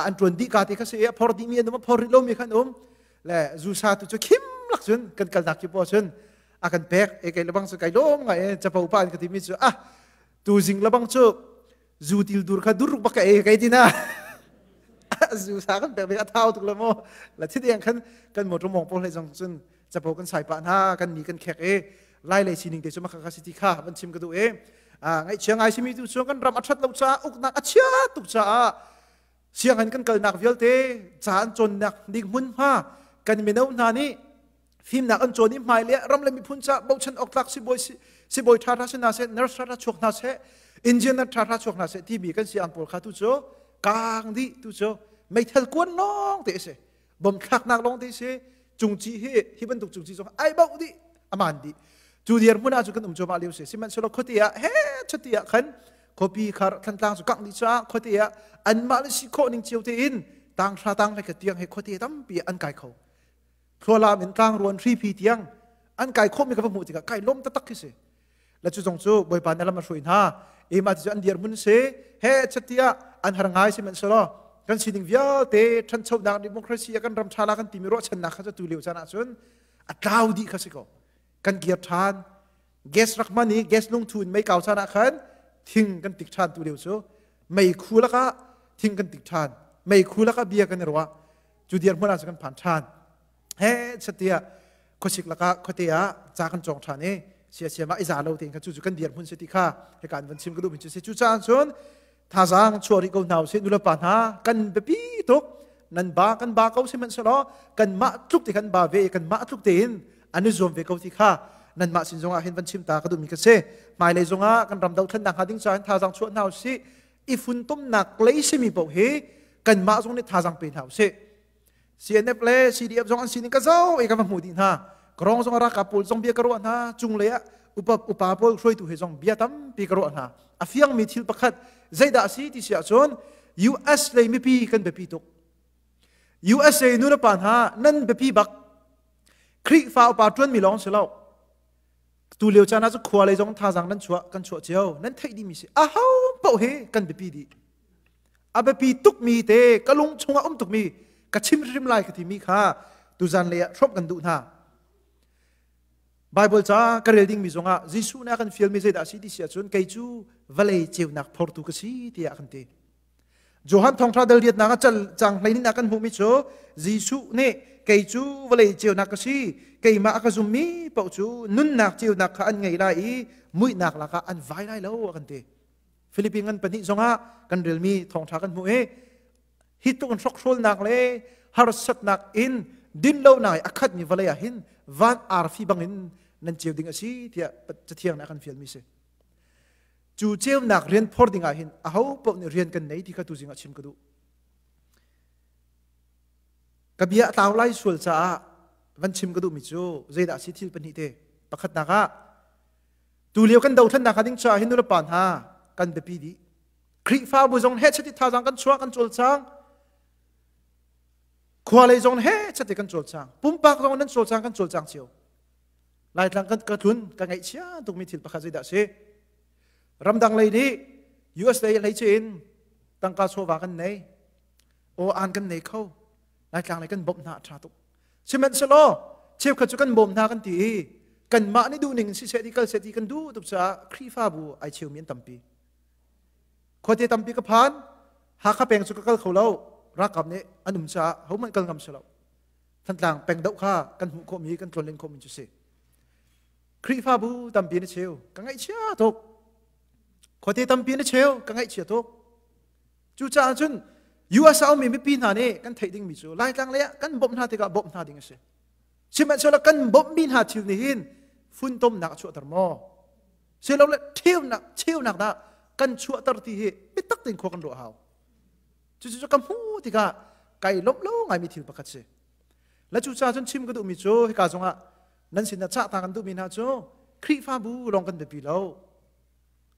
an tuan di ka te ka se phor di mi anum phor ri lo mi kan um le zu sa tu chu khim lak chun kan kal nak ki po chun a kan pek e kai lebang cu kai lom nga e chapo pa an ka timi cu ah tu jing lebang cu zu til dur kha dur baka e kai tina zu sa kan pek ve a thau tuk la mo la thi deng khan kan motor mong po hlei jong cun chapo kan sai pa na kan ni kan khek e lai le sining te chu maka ka city kha ban chim ka du e a ngai chia ngai simi tu chuan kan ram athat lo cha uknak achia tuk cha a siang han kan kal nak vialte chan chon nak dik mun ma kan mino na ni fimnak an cawn i hmai le ram le miphun ca bochan awk tlak sibawi sibawi ṭha hra se na se nurse hra chuak hna se engineer ṭha hra chuak hna se timi kan si ang pawl kha tu cu kaang di tu cu meithal kuan lawng te se bom thlaknak lawng te se cungci hi hi bantuk cungci zong ai bau di aman di cu dir hmun ah cu kan um choma liu se sihmanhsehlaw khote ah he chati ah khan khopi khar thantlang cu kak ni cha khote ah anmah le si khawh ning cio te in tang hra tang ve ka tiang he khote tampi an kai kho thlualam in tlangruan hripi tiang an kai khawhmi ka va hmuh tikah kai lom taktak khi si la cu zong cu bawipa na lam a hruai hna e ma ti cu an dir mun se he chatiah an har ngai si man selo kan sining vialte ṭhanchonak democracy a kan ram ṭha la kan timi ruahchannak kha cu tu leo chan ahcun a tlau dih kha si ko kan kir ṭhan gas rak man i gas lung thu in mei kau chan ah khan thing kan tik ṭhan tu leo cu mei khu lakah thing kan tik ṭhan mei khu lakah bia kan i ruah cu dir hmar ah kan phan than he chatia khosik laka khote ah cha kan chong than i sia sia ma iza lo te kha chu chu kan dir mun se ti kha he kan van sim ka du min chu se chu chan chun thazang chuari ko hnaw se nula pa hna kan bepi tuk nan ba kan ba ko se man selo kan ma tluk te kan ba ve kan ma tluk te in anu zom ve ko ti kha nan ma sin zongah hin van chim ta ka du mi ka se mai le zongah kan ram do thlan dang ha ding cha in thazang chuat hnaw si i funtomnak lei simi paoh hi kanmah zong nih thazang pe hna usih CNF le CDF zong an sining ka zo i ka va hmu dih hna karong zong raka pawl zong bia ka ruah hna cunglei ah upa upa pawl hruaitu he zong bia tampi ka ruah hna a fiangmi thil pakhat zeidah a si ti si ahcun US lei mipi kan biapi tuk USA nu le pa hna nan biapi bak Khrihfa upa ṭuanmi lawng si lo tu lio caan ah cu khua lei zong thazaang nan chuah kan chuah cio nan theih dimi si a ho paoh hi kan biapi dih a biapi tukmi te ka lung chungah um tukmi ka chim hrim lai ka timi kha tuzan lei ah hrawp kan duh hna Bible ca ka rel dingmi zongah Jesuh na kan fialmi zeidah si ti si ahcun kei cu vale ceunak phortu ka si tiah kan ti Johan thawngṭha dal diatnak a cal cang hleinin a kan hmuhmi cu Jesuh nih kei cu vawlei ceunak ka si keimah a ka zummi paoh cu nunnak ceunak kha an ngei lai i muihnak lakah an vai lai lo a kan ti. Philippines ngan pahnih zongah kan relmi thawngṭha kan hmuh i hi tluk in hrokhrawlnak le harsatnak in dinlonak i a khatmi vawlei ah hin van arfi bangin nan ceu ding a si tiah cathiang nih a kan fialmi a si. cu ceunak rian phor ding ahhin aho paoh nih rian kan nei ti kha tu zingah chim ka duh ka bia a tlau lai sual caah van chim ka duhmi cu zeidah si thil pahnih te pakhatnak ah tu lio kan dothlannak ka ding caah hindu le pa hna kan biapi dih Khrihfabu zong he chati thazang kan chuah kan cul cang khua lei zong he chati kan cul cang pumpak zong nan cul cang kan cul cang cio Laitlang kan ka tlun ka ngaihchia tukmi thil pakhat zeidah si? Ramdang lei nih US lei lei cu in tangka chawva kan nei, aw an kan nei kho, Laitlang lei kan bawmh hna a ṭha tuk. Sihmanhsehlaw cheukhat cu kan bawm hna kan ti i kanmah nih duhning si seh ti kal seh ti kan duh tuk caah Khrihfabu ai cheumi an tampi. Khuate tampi ka phan, Hakha peng cu ka kal kho lo, ralkap nih an um caah hohmanh kal ngam si lo. Thantlang peng doh kha kan hmuh khawhmi kan tlawnlen khawhmi cu si. Khrihfabu tampi na cheu ka ngaihchia tuk. Khuate tampi na cheu ka ngaihchia tuk. Cucaah cun US a ummi mipi hna nih kan theih dingmi cu Laitlang lei ah kan bawmh hna tikah bawmh hna ding a si. Sihmanhsehlaw kan bawmhmi hna thil nih hin funtomnak a chuahter maw? Silole ṭheunak cheunak dah kan chuahter ti hi biatak tein khua kan ruah hau. cucu ka hmuh tikah kai lawmh lo ngaimi thil pakhat si la cu ca cun chim ka duhmi cu hika zongah nan sinah cah ta kan duhmi hna cu khrihfabu lawng kan biapi lo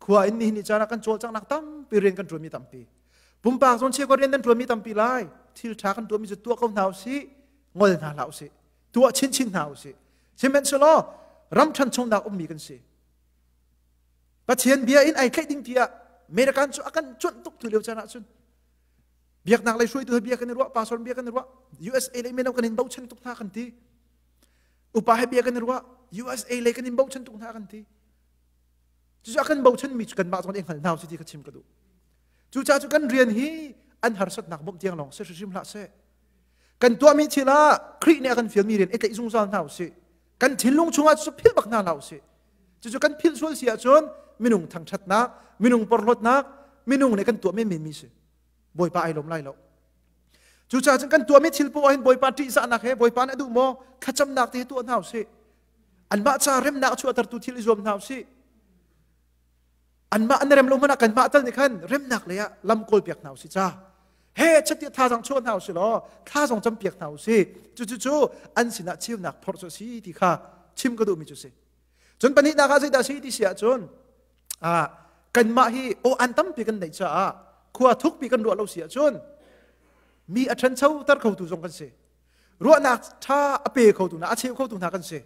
khua in nihin ni caan ah kan cawlcanghnak tampi rian kan ṭuanmi tampi pumpak zong chiako rian nan ṭuanmi tampi lai thil ṭha kan ṭuanmi cu tuah ko hna usih ngol hna hlah usih tuah chinchin hna usih sihmanhsehlaw ram ṭhan chungnak ummi kan si Pathian bia in ai tlaih ding tiah American cu a kan cuanh tuk tu lio can ahcun biaknak lei hruaitu he bia kan i ruah pastor bia kan i ruah USA lei melo kan in bochan tuk hna kan ti upa he bia kan i ruah USA lei kan in bochan tuk hna kan ti cucu a kan bochan mi cu kanmah zong nih hngal hna si ti ka chim ka duh cucaah cu kan rian hi an harsatnak bawmh tiang lawng si hrim hlah seh kan tuahmi thil ah Khrih nih a kan fialmi rian i tlaih zungzal hna usih kan thinlung chungah cu philh bak hna hlah usih cucu kan philh sual si ahcun minung thangṭhatnak minung porhlawtnak minung nih kan tuah menmenmi si bawipa ai lawm lai lo cucaah cun kan tuahmi thil poah hin bawipa ṭihzahnak he bawipa nih a duh maw thlacamnak te tuah hna usih anmah ca remnak cu a tertu thil i zuam hna usih anmah an rem lo hmanh ah kanmah tal nih khan remnak lei ah lam kawl piak hna usih ca he chatiah thazang chuah hna usih law thazang cam piak hna usih cucucu an sinah cheunak phor cu a si ti kha chim ka duhmi cu si cun pahnihnak ah zeidah si ti si ahcun ah kanmah hi aw an tampi kan neih caah khua thukpi kan ruah lo si ahcun mi a ṭhancho ter khotu zong kan si ruahnak ṭha a pe khotu hna a cheu khotu hna kan si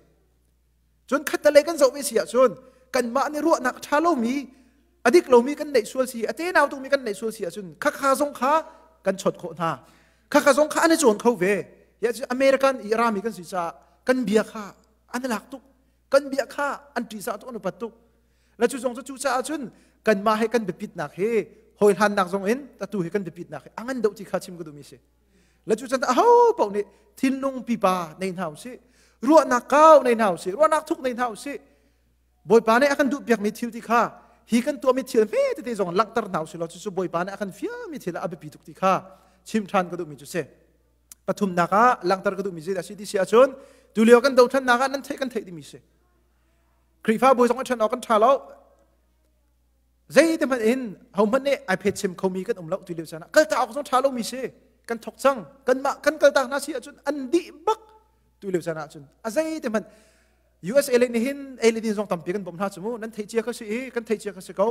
cun khattelei kan zoh ve si ahcun kanmah nih ruahnak a ṭha lomi a dik lomi kan neih sual si a tenau tukmi kan neih sual si ahcun khakha zong kha kan chawt khawh hna khakha zong kha an i cawn kho ve american i rami kan si caah kan bia kha an i lak tuk kan bia kha an ṭisa tuk an upat tuk la cu zong cu cu caah cun kanmah he kan biapitnak hi hoi hlannak zong in tatu hi kan biapitnak hi a ngan deuh ti kha chim ka duhmi si La cu chan aho paoh nih thinlung pipa nei hna usih ruahnak kau nei hna usih ruahnak thuk nei hna usih bawipa nih a kan duh piakmi thil ti kha hi kan tuahmi thil hme tete zong langhter hna usih law cucu bawipa nih a kan fiami thil a biapi tuk ti kha chim ṭhan ka duhmi cu si pathumnak ah langhter ka duhmi zeidah si ti si ahcun tulio kan dothlannak ah nan theih kan theih dimi si Khrihfabu zong a ṭhan awk kan ṭha lo Zeitihmanh in hohmanh nih ai phet chem khomi kan um lo ti lio caan ah kaltak awk zong ṭha lomi si kan thok cang kanmah kan kaltak hna si ahcun an dih bak tu lio caan ahcun a zeitihmanh USA le nih hin ei le din zong tampi kan bawm hna cu mu nan theih cia ka si i kan theih cia ka si ko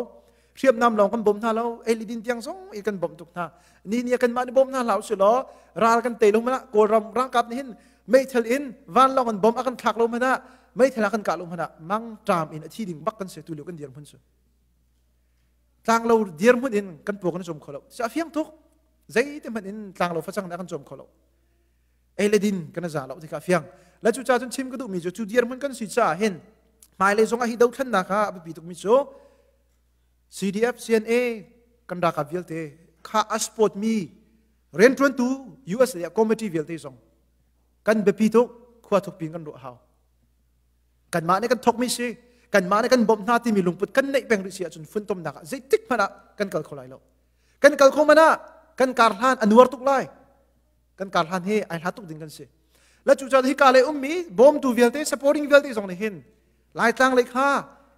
hriamnam lawng kan bawm hna lo ei le din tiang zong i kan bawmh tuk hna ni ni kanmah ni bawm hna hlah usih law ral kan tei lo hmanah kawlram rangkap nih hin meithal in vanlawng an bom a kan thlak lo hmanah meithal a kan kah lo hmanah mangṭam in a thi ding bak kan si tu lio kan dir hmun su tlanglo dir hmun in kan puak kan cawm kho lo si a fiang tuk zeite hmanh in tlanglo facang na kan cawm kho lo ei le din kan za lo tika fiang la cu cha cun chim ka duhmi cu cu dir hmun kan si caah hin hmailei zong ah hi dothlannak ah a biapi tukmi cu CDF CNA kan ralkap vialte kha a support mi riantuantu USA a committee vialte zong kan biapi tuk khua thuk pin kan ruah hau kan mah nih kan thok mi si kan mah nih kan bawmh hna timi lungput kan neih peng rih si ahcun funtomnak ah zeitik hmanh ah kan kal kho lai lo kan kal kho man ah kan kar hlan a nuar tuk lai kan kar hlan he ai hlat tuk ding kan si la cu caan hi ka le um mi bawmtu vialte supporting vialte zong nih hin Laitlang lei kha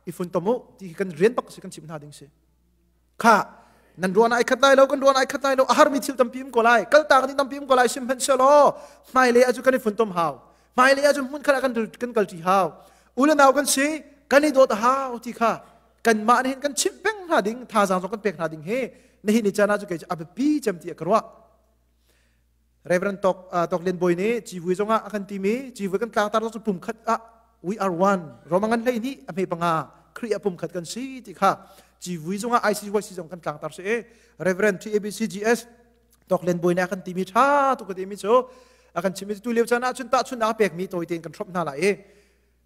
i funtom u ti hi kan rian bak si kan chim hna ding si. Kha nan ruan ai khat lai lo kan ruan ai khat lai lo a har mi thil tampi um ko lai kal ta kan tampi um ko lai sim hman sia law hmai le aju kan i funtom hau hmai le aju hmun khala kan kan kal ti hau ulanau kan si kan i dawt hau ti kha kan mah hin kan chim peng hna ding thazaang zong kan pek hna ding hi na hi ni cana chu kei a biapi cem ti ka ruah Reverend Tok, uh, Tok Lian Bawi nih civui zong ah a kan timi civui kan tlangtar zong cu pumkhat ah we are one romangan hlei ni a hme panga kri a pumkhat kan si ti kha civui zong ah ICYC zong kan tlangtar si e Reverend TABCGS Tok Lian Bawi nih a kan timi tha tu ka timi cu a kan chimmi tu leo chan ah chun ta chun a pekmi tawi tein kan throp hna lai e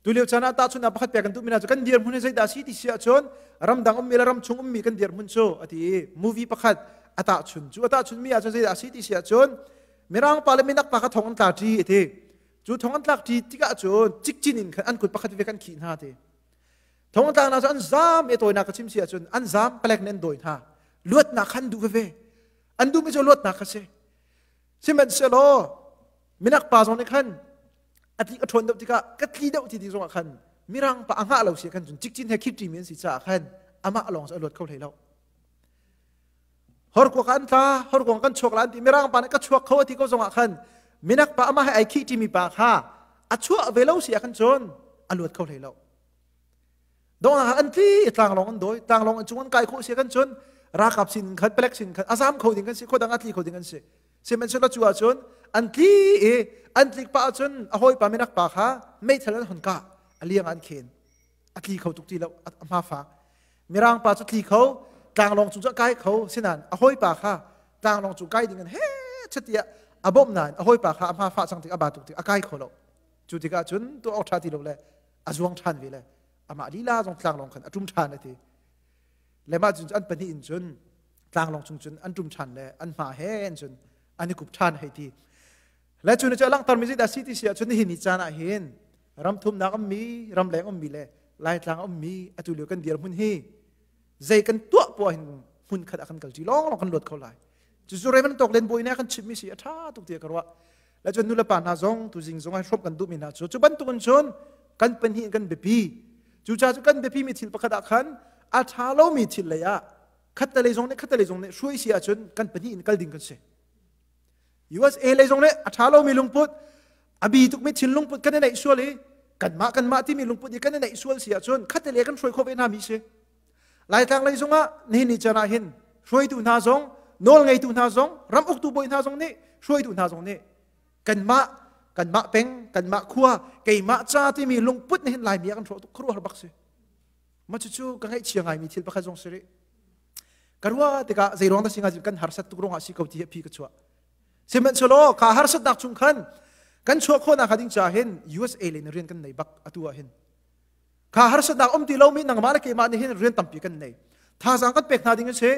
Tulio chan ah tahchun a pakhat pek kan tu mina cu kan dirhmun hi zeidah si ti si ahcun ramdang ummi le ramchung ummi kan dirhmun cu a ti i movie pakhat a tahchun cu a tahchun mi ahcun zeidah si ti si ahcun Mirang pa le minak pa kha thong an tla ṭi a ti cu thong an tlak ṭi tikah cun cikcin in an kut pakhat ve kan khih hna ti thong tlak hna cu an zam e tawinak ka chim si ahcun an zam palek ne an dawi hna luatnak khan duh veve an duhmi cu luatnak ka si sihmanhsehlaw minak pa zong nih khan a tli a ṭhawn deuh tikah ka tli deuh ti ti zongah khan mirang pa a ngah lo si khan cun cikcin he khipṭi mi an si caah khan amah lawng cu a luat kho hlei lo horkuak an tla horkuang kan chuak la an ti mirang pa nih ka chuak kho ti ko zongah khan minak pa amah he ai khihṭi mi pa kha a chuah ve lo si ah khan cun a luat kho hlei lo dongah an tli tlanglong an doi tlanglong an cung an kai khawh sia kan cun rakap sin in khat pelek sin khat azam kho ding kan si khodang atli kho ding an si sihmanhsehlaw cu ahcun an tli i an tlik pa ahcun a hawipa minak pa kha meithal an hon ka aliang an khen atli kho tuk ti lo ahma fa mirang pa cu tli kho tlanglong cung cu kai kho sinan a hawipa kha tlanglong cung kai ding an he chatia abom nain a hawipa kha ahma fa chang tik aba tuk tik akai kho lo cu tikah cun tu awtha ti lo le a zuang ṭhan ve le amah lila zong tlanglawng khan a ṭum ṭhan a ti le mah cun an pahnih in cun tlanglawng chung cun an ṭum ṭhan le an hma he in cun an i kup ṭhan hei ti le cu ni cu langhtermi zit a si ti si ahcun hi ni caan ah hin ram thumnak ummi ram leng ummi le laitlang ummi atu lio kan dir hmun hi zei kan tuah puah hin hmun khat a kan kal ti lawng lawng kan luat kho lai cucu Raymond Tawk Len Bawi ne kan chimmi si a ṭha tuk tiah ka ruah le cun nulepa hna zong tuzing zong ai hrawmh kan duhmi hna cu cu bantukin cun kan pahnih in kan biapi cucaah cu kan biapimi thil pakhat ah khan a ṭha lomi thil lei ah khattelei zong nih khattelei zong nih hruai si ahcun kan pahnih in kal ding kan si USA lei zong nih a ṭha lomi lungput a bi tukmi thil lungput kan i neih sual i kanmah kanmah timi lungput i kan i neih sual si ahcun khattelei kan hruai khawh ve hna mi si Laitlang lei zung ah nihin ni can ah hin hruaitu hna zong nawl ngeitu hna zong ram uktu bawi hna zong nih hruaitu hna zong nih kanmah kanmah peng kanmah khua keimah ca timi lungput nih hin laimi ah kan hrawh tuk khuaruahar bak si ma cucu ka ngaihchia ngaimi thil pakhat zong si rih ka ruah tikah zeiruang dah singah kan harsat tuk ruangah si ko ti hi phi ka chuah sihmanhsehlaw ka harsatnak chung khan kan chuah khawhnak hnga ding ca hin USA le in rian kan nei bak atu ah hin kha harsatnak um ti lomi nangmah le keimah nih hin rian tampi kan nei thazang kan pek hna ding a si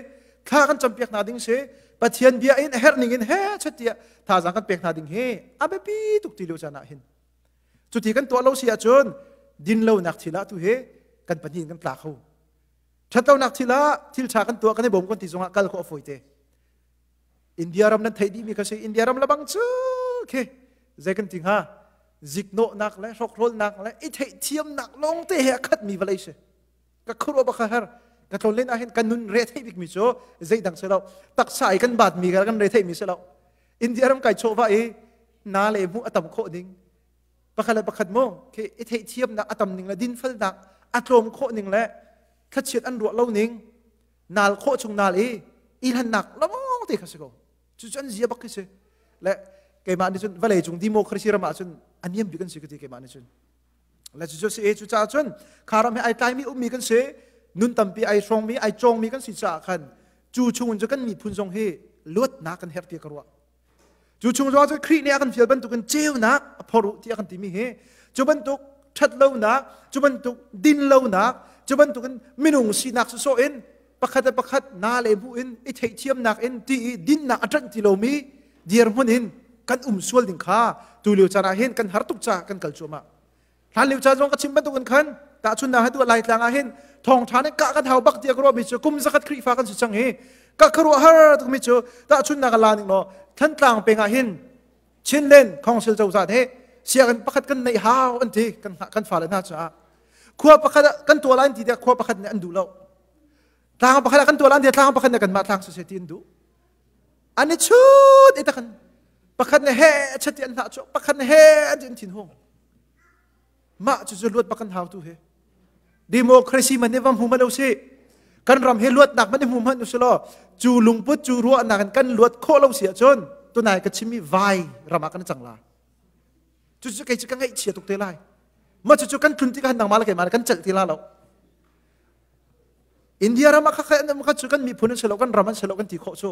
thla kan cam piak hna ding si pathian bia in a herh ning in he chati tiah thazang kan pek hna ding hi a biapi tuk ti lio caan ah hin cuti kan tuah lo si ahcun din lonak thil ah tu hi kan pahnih kan tla kho ṭhat lonak thil ah thil ṭha kan tuah kan i bawm kan ti zongah kal kho a fawi te India ram nan theih dihmi kha si India ram lebang cu khi zei kan ti hnga ziknawhnak le hrokrolnak le i theihthiamnak lawngte he a khatmi vawlei si ka khurwa baka her ka tlon len ahhin kan nun re thei bikmi cu zeidang si lo taksa i kan batmi kan re theimi si lo India ram kai chawva i na le hmuh a tam khawh ning pakhat le pakhat mu khi i theihthiamnak a tam ning le dinfelnak a tlawm khawh ning le thlachiat an ruah lo ning nal khawh chung nal i ilhannak lawng te kha si ko cu cu an zia bak khi si le keimah nih cun vale cung democracy ram ah cun aniam bik an si ka ti keimah nih cun le cu cu si e cu caah cun kha ram hi ai tlai mi ummi kan si nun tampi ai hrawng mi ai cawng mi kan si caah khan cu chungin cu kan miphun zong hi luatnak kan herh ti ka ruah Cu chung zong cu Khrih nih a kan fial bantukin ceunak a phor u tiah kan timi hi cu bantuk ṭhat lonak, cu bantuk din lonak, cu bantukin minung sinak sawh in pakhat le pakhat na le bu in i theihthiamnak in ti i dinnak a ṭanh ti lomi dirhmun in kan um sual ding kha tulio caan ah hin kan har tuk caah kan kal cuahmah. hlan lio ca zong ka chim bantuk in khan tahchun na hatu lai tlang ah hin thong tha ne ka ka thau bak tia ka ruah mi cu kum zakhat khrihfa kan si chang hi ka ka ruah har tuk mi cu tahchun na ka la ning no thantlang peng ah hin chinlen council cozah te siagan pakhat kan nei hau an ti kan kan fa le hna ca khua pakhat kan tua lain ti te khua pakhat ne an du lo tlang pakhat kan tua lain ti tlang pakhat ne kan ma tlang society an du an i chut i takhan pakhat ne he chati an hlah cu pakhat ne he an tin thin hung mah cu zu luat pakan hau tu he democracy man ne vam hmu ma lo si kan ram he luat nak man hmu man usih law cu lungput cu ruah nak in kan luat khawh lo si ahcun tunai ka chimmi vai ramah kan cang la cu cu kei cu ka ngaih chia tuk te lai ma cu cu kan tlun ti ka han nang ma la keimah kan celh ti la lo India ram ah kha cu kan miphun an si lo kan ram an si lo kan ti khawh cu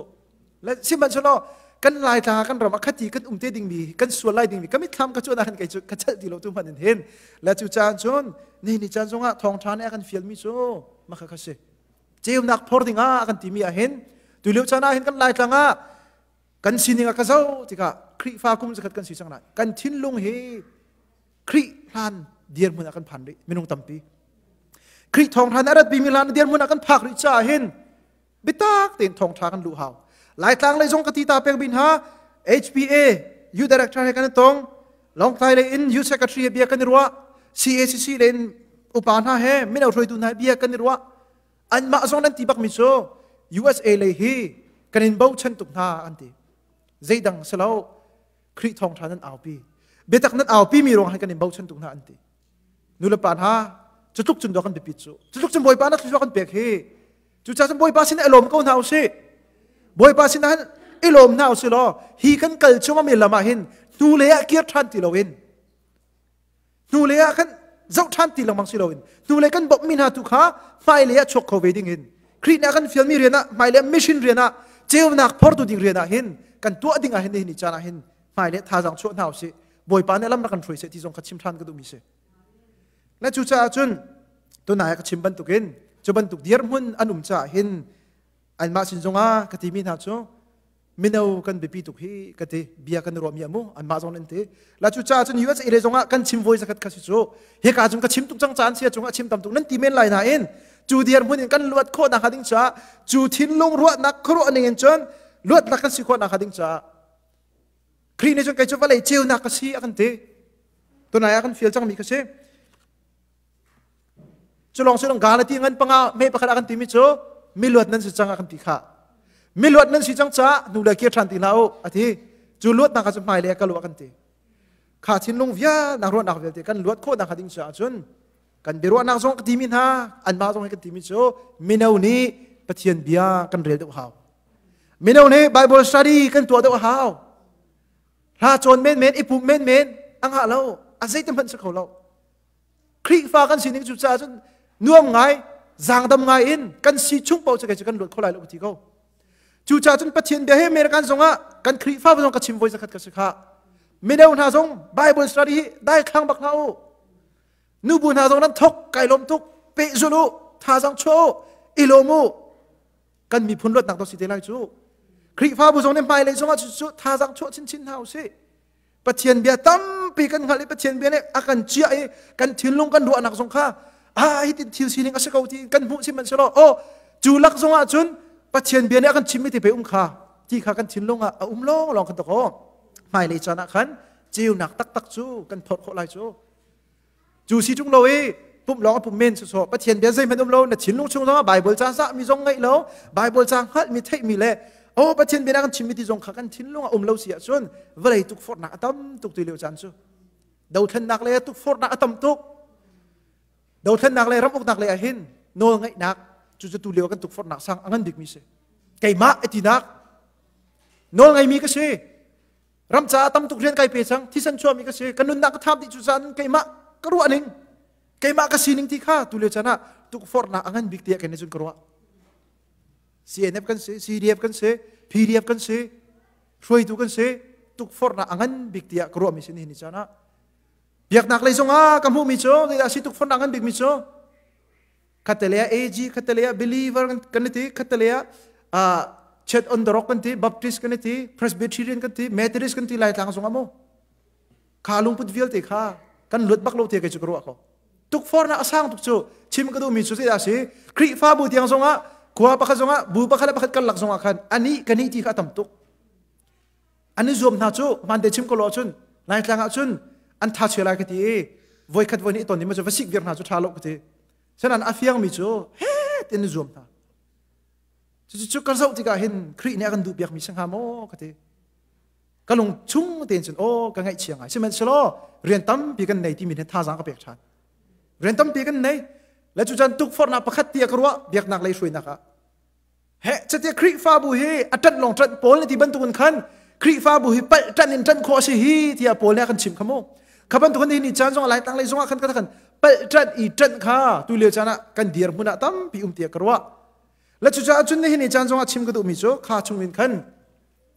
sihmanhsehlaw kan laitlang ah kan ram ah khati kan um te dingmi kan sual lai dingmi ka mitthlam ka cu na kan kai cu ka chelh ti lo tu hman in hin la cu caan cun ni ni caan zongah thawngtha nih a kan fialmi cu maka kha si ceumnak phor dingah kan timi ah hin tu lio caan ah hin kan laitlang ah kan sining a ka zo tikah Khrihfa kum zakhat kan si cang lai kan thinlung hi Khrih hlan dirhmun ah kan phan rih minung tampi Khrih thawng hlan a ratpi mi hlan dirhmun ah kan phak rih caah hin bitak tein thawng ṭha kan luh hau Laitlang lei zong ka ti ta pek bin ha HPA U director he kan tong Longtlai lei in U secretary bia kan i ruah CACC lei in upa hna he mino hruaitu hna bia kan i ruah anmah zong nan ti bak mi cu USA lei hi kan in bochan tuk hna an ti zeidang si lo Khrih thawngṭha nan aupi. Biatak nan aupi mi ruang han kan in bochan tu hna an ti. Nulepa hna, cutluk cun dawh kan biapit cu. Cutluk cun Bawipa na thluachuah kan pek hi. Cucaah Bawipa sin i lawm ko hna usih. Bawipa sin ah i lawm hna usih law hi kan kal cu mi lam ah hin hnu lei ah kir ṭhan ti lo in hnulei ah kan zoh ṭhan ti lengmang si loin hnulei kan bawmhmi hna tu kha hmailei ah chuak kho ve ding in Khrih nih a kan fialmi rian ah hmailei mission rian ah ceunak phortu ding rian ah hin kan tuah ding ah hin nihin ni caan ah hin hmailei thazaang chuah hna usih Bawipa nih lam rak kan hruai seh ti zong kha chim ṭhan ka duhmi si na cucaah cun tunai ka chim bantukin cu bantuk dirhmun an um caah hin anmah sin zongah ka timi hna cu mino kan biapi tuk hi ka ti bia kan ruah mi amu an mah zong an ti la cu ca cun US area zong ah kan chim voi zakat kha su cu he ka cung ka chim tuk cang caan sia chung a chim tam tuk nan ti men lai na in cu diar mun in kan luat kho na kha ding cha cu thin lung ruah nak khru aning in chun luat nak kan si kho na kha ding cha kri ne chun kai chu valei ceu na ka si akan ti tunai akan feel chang mi ka si Cu lawng cu dang gaa le ti ngan panga me pakhat a kan timi cu miluat nan si cang a kan ti kha. Miluat nan si cang ca nu le kir ṭhan ti hlah u a ti. Cu luatnak kha cu hmai le ka lu a kan ti. Kha thinlung vianak ruahnak vialte kan luat khawhnak hnga ding caah cun kan biaruahnak zong ka timi hna anmah zong hi kan timi cu mino nih Pathian bia kan rel deuh hau. Mino nih Bible study kan tuah deuh hau. Hla cawn menmen, i pum menmen, a ngah lo, a zeiti hmanh si kho lo. Khrihfa kan sining cu caah cun nuam ngai zangdam ngai in kan si chung paoh cakei cu kan luat kho lai lo ti ko cucaah cun pathian bia he American zongah kan Khrihfa zong ka chim voi zakhat ka si kha mino hna zong Bible study hi dai khlang bak hna u nubu hna zong nan thok kai lom tuk pehzul u thazang chuah u i lom u kan miphun luatnak to si te lai cu Khrihfabu zong nih hmailei zongah cu thazang chuah chinchin hna u sih Pathian bia tampi kan hngalh i Pathian bia nih a kan ciah i kan thinlung kan ruahnak zong kha ah hitin thil sining a si ko ti kan hmuh sihmanhsehlaw aw cu lak zongah cun Pathian bia nih a kan chimhmi tipei um kha ti kha kan thinlung ah a um lawnglawng kan tuk aw hmailei caan ah khan ceunak taktak cu kan thawt khawh lai cu cu si chung lo i pumh lawng a pum men sawsawh pathian bia zeihmanh um lo na thinlung chung zong bible ca zahmi zong ngeih lo bible ca hngalhmi theihmi le oh pathian bia kan chimmi ti zong kha kan thinlung a um lo si ahcun vawlei tukforhnak a tam tuk ti lio caan cu dothlennak le tukforhnak a tam tuk dothlennak le ramuknak le ahin nawl ngeihnak cu cu tu lio kan tukforhnak sang a ngan bikmi si keimah atinak nawl ngeimi ka si ram caah tam tuk rian kai pe sang thisen chuami ka si ka nunnak ka tham dih cu zan keimah ka ruah ning keimah ka sining ti kha tu le chan ah tukforhnak a ngan bik tiah kan cun ka ruah CNF kan si CDF kan si PDF kan si hruaitu kan si tukforhnak a ngan bik tiah ka ruah mi sin hi ni chan ah biaknak lei zong ah ka hmuhmi cu ngai si tukforhnak ngan bik mi cu khatale ah AG khatale ah believer kan ti khatale ah chet on the rock kan ti baptist kan ti presbyterian kan ti methodist kan ti laitlang sung amo kha lungput vialte kha kan lut bak lo te kai chu ka ruwa ko tuk for na asang tuk chu chim ka du mi chu se da si krifa bu tiang zonga khua pakhat zonga bu pakhat pakhat kan lak zonga khan ani kani ti kha tam tuk an i zuam hna cu hmante chim ko law cun laitlang ah cun an tha chue lai ka ti i voikhat voi nih ton ding ma cu va sik vir hna cu tha lo ka ti sanan a fiangmi cu het in zuam hna cucu cu kan zoh tikah hin khrih nih a kan duh piakmi si hnga maw ka ti ka lung chung tein cun aw ka ngaih chiang ai sihmanhselaw rian tampi kan nei timi nih thazang ka pek ṭhan rian tampi kan nei le cu can tukforhnak pakhat ti a ka ruah biaknak lei hruainak ah He catia Khrihfabu hi a ṭanh lawng ṭanh Paul na ti bantukin khan Khrihfabu hi palh ṭanh in ṭanh khawh a si hi tiah Paul nih a kan chim kha mu. Kha bantukin hihi ni caan zong lai tanglei zongah khan kan palh ṭanh i ṭanh kha tu lio caan ah kan dir hmun ah tampi um tiah ka ruah. La cucaah cun nihin ni caan zongah chim ka duhmi cu kha chungin khan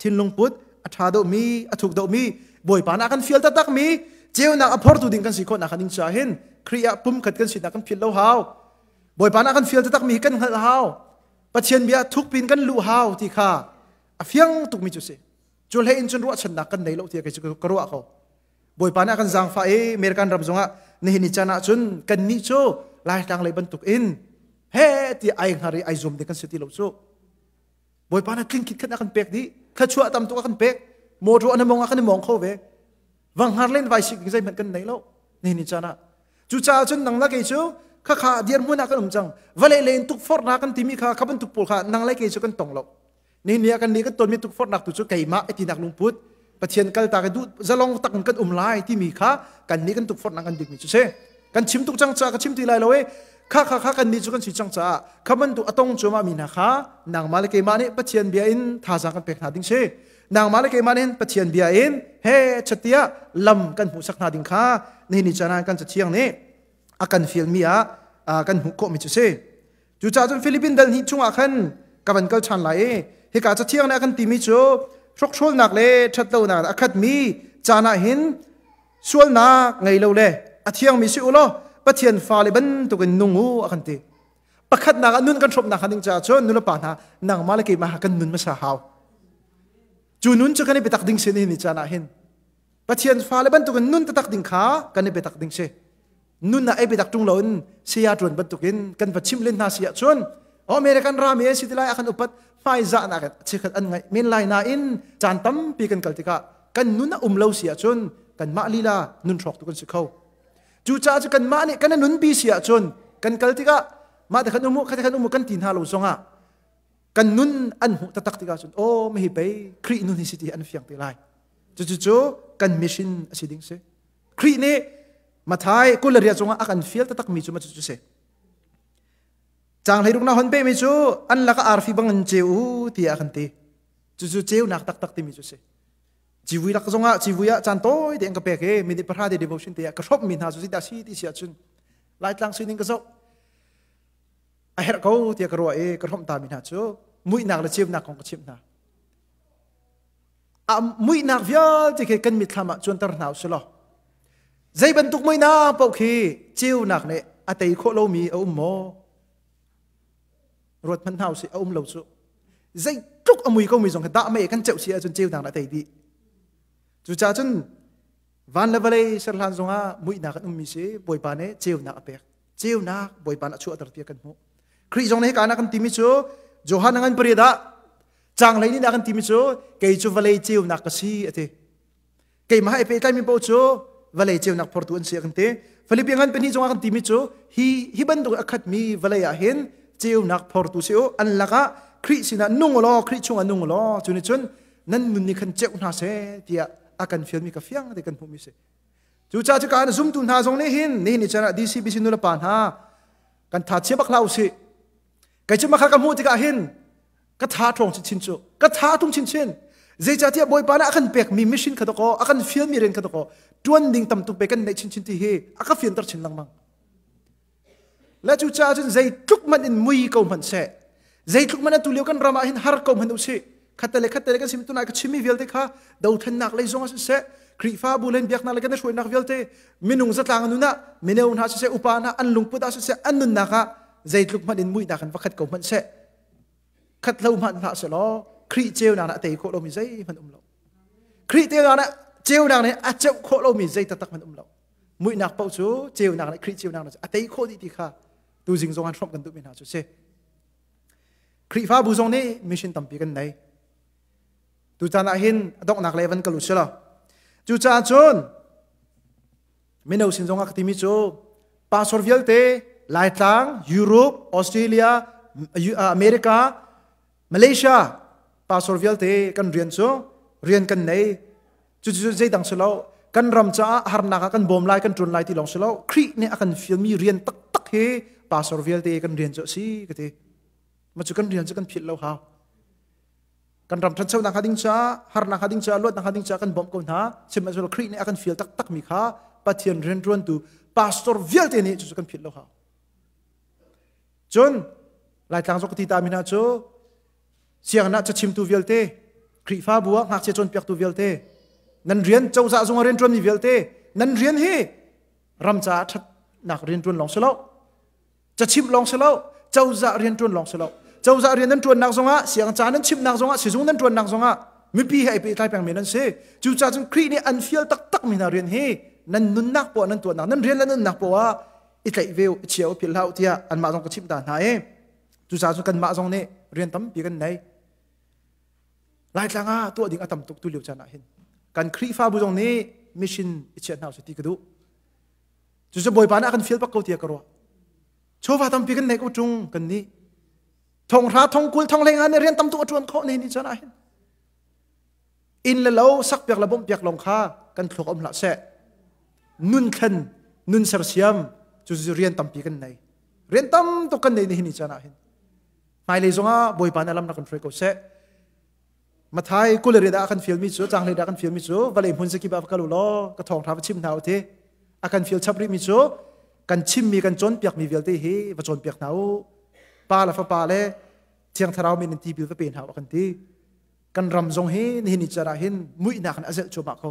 thinlung put a ṭha domi a thuk domi bawipa na kan fial taktak mi ceunak a phortu ding kan si khawhnak ding caah hin Khrih ah pum khat kan sinak kan phil lo hau bawipa na kan fial taktak mi kan hngalh hau pathian bia thukpin kan lu hau ti kha a fiang tukmi cu si cu hlei in cun ruahchannak kan nei lo ti ka ruah ko bawipa na kan zaangfa e American ram zongah nihin ni can ah cun kan nih cu laitlang lei bantuk in he ti ai hngar i ai zum de kan si ti lo cu Bawipa na tling kit khat a kan pek dih thluachuah a tam tuk a kan pek motor an mong a kan i mong kho ve wang har len vai sik ding zeihmanh kan nei lo ne ni chan ah cu caah cun nang la kei cu kha kha dirhmun ah kan um cang vale le in tukforhna kan timi kha kha bantuk pawl kha nang le kei cu kan tong lo ne ni a kan ni kan ton mi tukforhnak tu cu keimah etinak lungput Pathian kaltak i duh zalong tak in kan um lai timi kha kan nih kan tukforhnak kan bikmi cu si kan chim tuk cang caah ka chim ti lai lo i kha kha kha kan nih cu kan si cang caah kha bantu atong cuamah mi hna kha nangmah le keimah nih Pathian bia in thazaang kan pek hna ding si nangmah le keimah nih Pathian bia in he chatia lam kan hmuhsak hna ding kha nihin ni can ah kan cathiang nih a kan fial mi ah kan hmuh khawh mi cu si Cucaah cun Philippine dal hnih chungah khan ka van kal ṭhan lai i hika cathiang nih a kan timi cu hrokhrolnak le ṭhatlonak a khatmi caan ah hin sualnak ngei lo le a thiangmi si u law Pathian fale bantukin nung u a kan ti. Pakhatnak ah nun kan hrawmh nakhnga ding caah cun nulepa hna nangmah le keimah kan nun hmasa hau. Cu nun cu kan i biatak ding sin hi ni caan ah hin Pathian fale bantukin nun tatak ding kha kan i biatak ding si. nun ah ei biatak ṭung loin saya ṭuan bantukin kan va chimh len hna si ahcun American rami an si ti lai ah kan upat hmaizah nak chekhat an ngaih men lai nain caan tampi kan kal tikah kan nun a um lo si ahcun kanmah lila nun hrawk tu kan si kho cucaah cu kanmah nih kan nun bi si ahcun kan kal tikah mah te khan umu kha te khan umu kan ti hna lo zongah kan nun an hmuh tatak tikah cun aw mehi pei khrih nun hi si ti an fiang te lai cucu cu kan mission a si ding si Khrih nih Mathai kul le riat cungah a kan fial takmi cu cucu si. Changhleiruk na hon pehmi cu an lakah arfi bangin ceu u tiah a kan ti. Cucu ceunak taktak timi cu si. Civui lak zongah civui ah caan tawi tein ka pek i minute pahra te devotion te ah ka hrawmmi hna cu sita si ti si ahcun Laitlang sining ka zoh a herh ko tiah ka ruah i ka hrawmh tami hna cu muihnak le ceunak kong ka chimh hna. a muihnak vialte khi kan mitthlam ah cuanter hna usih law zei bantuk muihnak paoh khi ceunak nih a tei khawh lomi a um maw ruat hmanh hna usih a um lo cu zei tluk a mui komi zong khi dah mei kan ceuh si ahcun ceunak nih a tei dih cucaah cun van le vawlei serhlan zongah muihnak an ummi si bawipa nih ceunak a pek ceunak bawipa a chuahter tiah kan hmuh Khrih zong nih hika kan timi cu Johan angan pariat ah changlei ni kan timi cu kei cu vawlei ceunak ka si a ti keimah he pehtlaimi po cu vawlei ceunak phortu an si a kan ti Philippi ngan pahnih cungah kan timi cu hi hi bantuk a khatmi vawlei ah hin ceunak phortu si u an lakah Khrih sinah nung law Khrih chungah nung law cuni cun nan nun ni khan ceuh hna se tiah a kan fialmi ka fiang ti kan hmuhmi si Cucaah cu kan zumtu hna zong nih hin nihin ni chan ah DCBC nulapa hna kan tha chia bak hlah usih. Kei cu makha ka hmuh tikah hin ka tha ṭhawng chinchin cu ka tha ṭung chinchin. Zeicahtiah Bawipa nih a kan pekmi mission kha dakaw, a kan fialmi rian kha dakaw, ṭuan ding tam tuk pe kan neih chinchin ti hi a ka fianter chin lengmang. Le cucaah cun zeitluk hmanh in mui ko hmanh seh, zeitluk hmanh atu lio kan ram ah hin har ko hmanh usih, khatte khatte le kan sim tunai ka chimmi vialte kha dothlennak lei zong ah siseh, Khrihfabu len biaknak le kan i hruainak vialte minung zatlang nun ah mineu hna siseh upa hna an lungput ah siseh an nunnak ah zeitluk hmanh in muihnak in va khat ko hmanh seh khat lo hmanh hlah se law Khrih ceunak nih a tei khawh lomi zeihmanh um lo Khrih ceunak nih a ceunak nih a ceuh khawh lomi zei taktak hmanh um lo muihnak paoh cu ceunak le Khrih ceunak cu a tei khawh dih ti kha tu zing zong an hrawmh kan duhmi hna cu si Khrihfabu zong nih mission tampi kan nei tu caan ah hin a donghnak le van kal u sila cu caah cun mino sin zong ah ka timi cu pastor vialte laitlang Europe Australia America Malaysia pastor vialte kan rian cu rian kan nei cucu zeidang si lo kan ram caah harnak ah kan bawm lai kan ṭun lai ti lawng si lo Khrih nih a kan fialmi rian taktak hi pastor vialte kan rian cu a si ka ti ma cu kan rian cu kan philh lo hau kan ram ṭhanchonak hnga ding caah harnak hnga ding caah luatnak hnga ding caah kan bawmh ko hna sihmanhsehlaw Khrih nih a kan fial taktakmi kha Pathian rianṭuantu pastor vialte nih cucu kan philh lo hau cun laitlang zok ti ta min ah cu sianginn ah cachimtu vialte Khrihfabu ah ngakchia cawnpiaktu vialte nan rian cozah zung ah rian ṭuan mi vialte nan rian hi ram caah ṭhatnak rian ṭuan lawng si lo cachimh lawng si lo cozah rian ṭuan lawng si lo cozah rian nan ṭuannak zongah sianginn ca nan chimhnak zongah sizung nan ṭuannak zongah mipi he ai pehtlai peng men an si cucacun Khrih nih an fial taktak mi hna rian hi nan nunnak poah nan tuahnak nan rian le nunnak poah i tlaih ve i chia u philh hlah tiah anmah zong ka chimh ta hna i cucaah cu kanmah zong nih rian tampi kan nei laitlang ah tuah ding a tam tuk tu lio chan ah hin kan khrihfabu zong nih mission i chiah hna usih ti ka duh cucu bawipa nih a kan fial bak ko tiah ka ruah chawva tampi kan nei ko chung kan nih thonghra thongkul thongleng ah nih rian tam tuk a ṭuan khawh ne ni chan ah hin inn le lo sakpiak le bawmhpiak lawng kha kan thluak um hlah seh nun thlen nun sersiam cu rian tampi kan nei rian tam tuk kan nei nihin ni caan ah hin hmailei zongah bawipa nih lam na kan hruai ko seh mathai kule riat ah kan fielmi cu canghleid ah kan fielmi cu vale hmun zakip ah va kal u law ka thawngtha va chim hna u ti a kan fiel chap rihmi cu kan chimmi kan cawnpiakmi vialte hi va cawnpiak hna u pa le fapa le thiang thlarau min in tibil va pe hna u kan ti kan ram zong hi nihin ni cer ah hin muihnak in a zelh cuahmah ko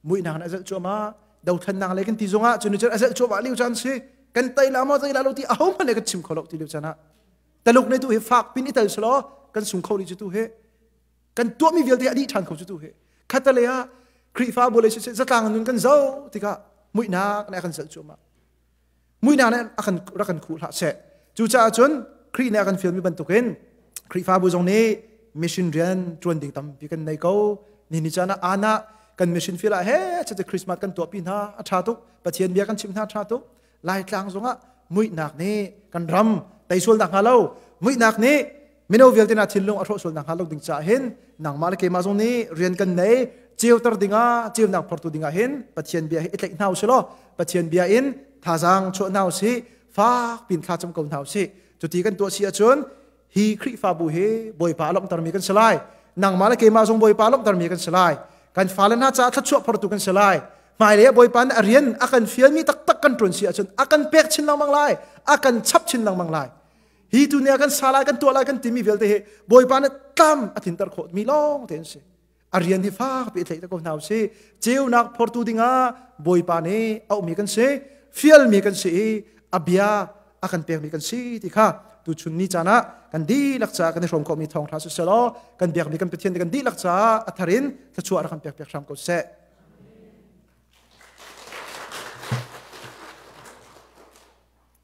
muihnak in a zelh cuahmah dothannak le kan ti zong ah cu ni cer a zelh cuahmah liu caan si kan tei la maw tei la lo ti a ho hmanh le kan chim kho lo ti liu caan ah taluk ne tu hi fak pin i tel selo kan sung kho li cu tu he kan tuah mi vialte a dih than kho cu tu he khatale ah Khrihfabu le si zatlang nun kan zo tikah muihnak ne kan zelh cuahmah muina nih a kan rak kan khuh hlah seh cucaah cun Khrih nih a kan fialmi bantukin Khrihfabu zong nih mission rian ṭuan ding tampi kan nei ko nihin caan ah aan ah kan mission field ah he cuti Christmas kan tuahpi hna a ṭha tuk Pathian bia kan chim hna a ṭha tuk Laitlang zongah muihnak nih kan ram tei sual nak hnga lo muihnak nih mino vialte na thinlung a hrawh sual nakhnga lo ding caah hin nangmah le keimah zong nih rian kan nei ceuter dingah ceunak phortu dingah hin pathian bia hi i tlaih hna u silaw pathian bia in thazaang chuah hna u si fak pin thla cam ko hna u si cuti kan tuah si ahcun hi khrihfabu hi bawipa a lawmhtermi kan si lai nangmah le keimah zong bawipa a lawmhtermi kan si lai kan fale hna caah thluachuah phortu kan si lai hmailei ah bawipa nih a rian a kan fialmi taktak kan ṭuan si ahcun a kan pek chin lengmang lai a kan chap chin lengmang lai hi tu ne kan sa lai kan tuah lai kan timi vialte hi bawipa nih tlam a thinter khawh mi lawng te an si a rian hi fak pe thei ko hna si ceunak phortu dingah bawipa nih auhmi kan si fialmi kan si i a bia a kan pekmi kan si ti kha tu chun ni caan ah kan dihlak ca kan i hrawm mi thawng hra si selaw kan biakmi kan pathian kan dihlak ca atharin thluachuah rak kan pek piak hram ko seh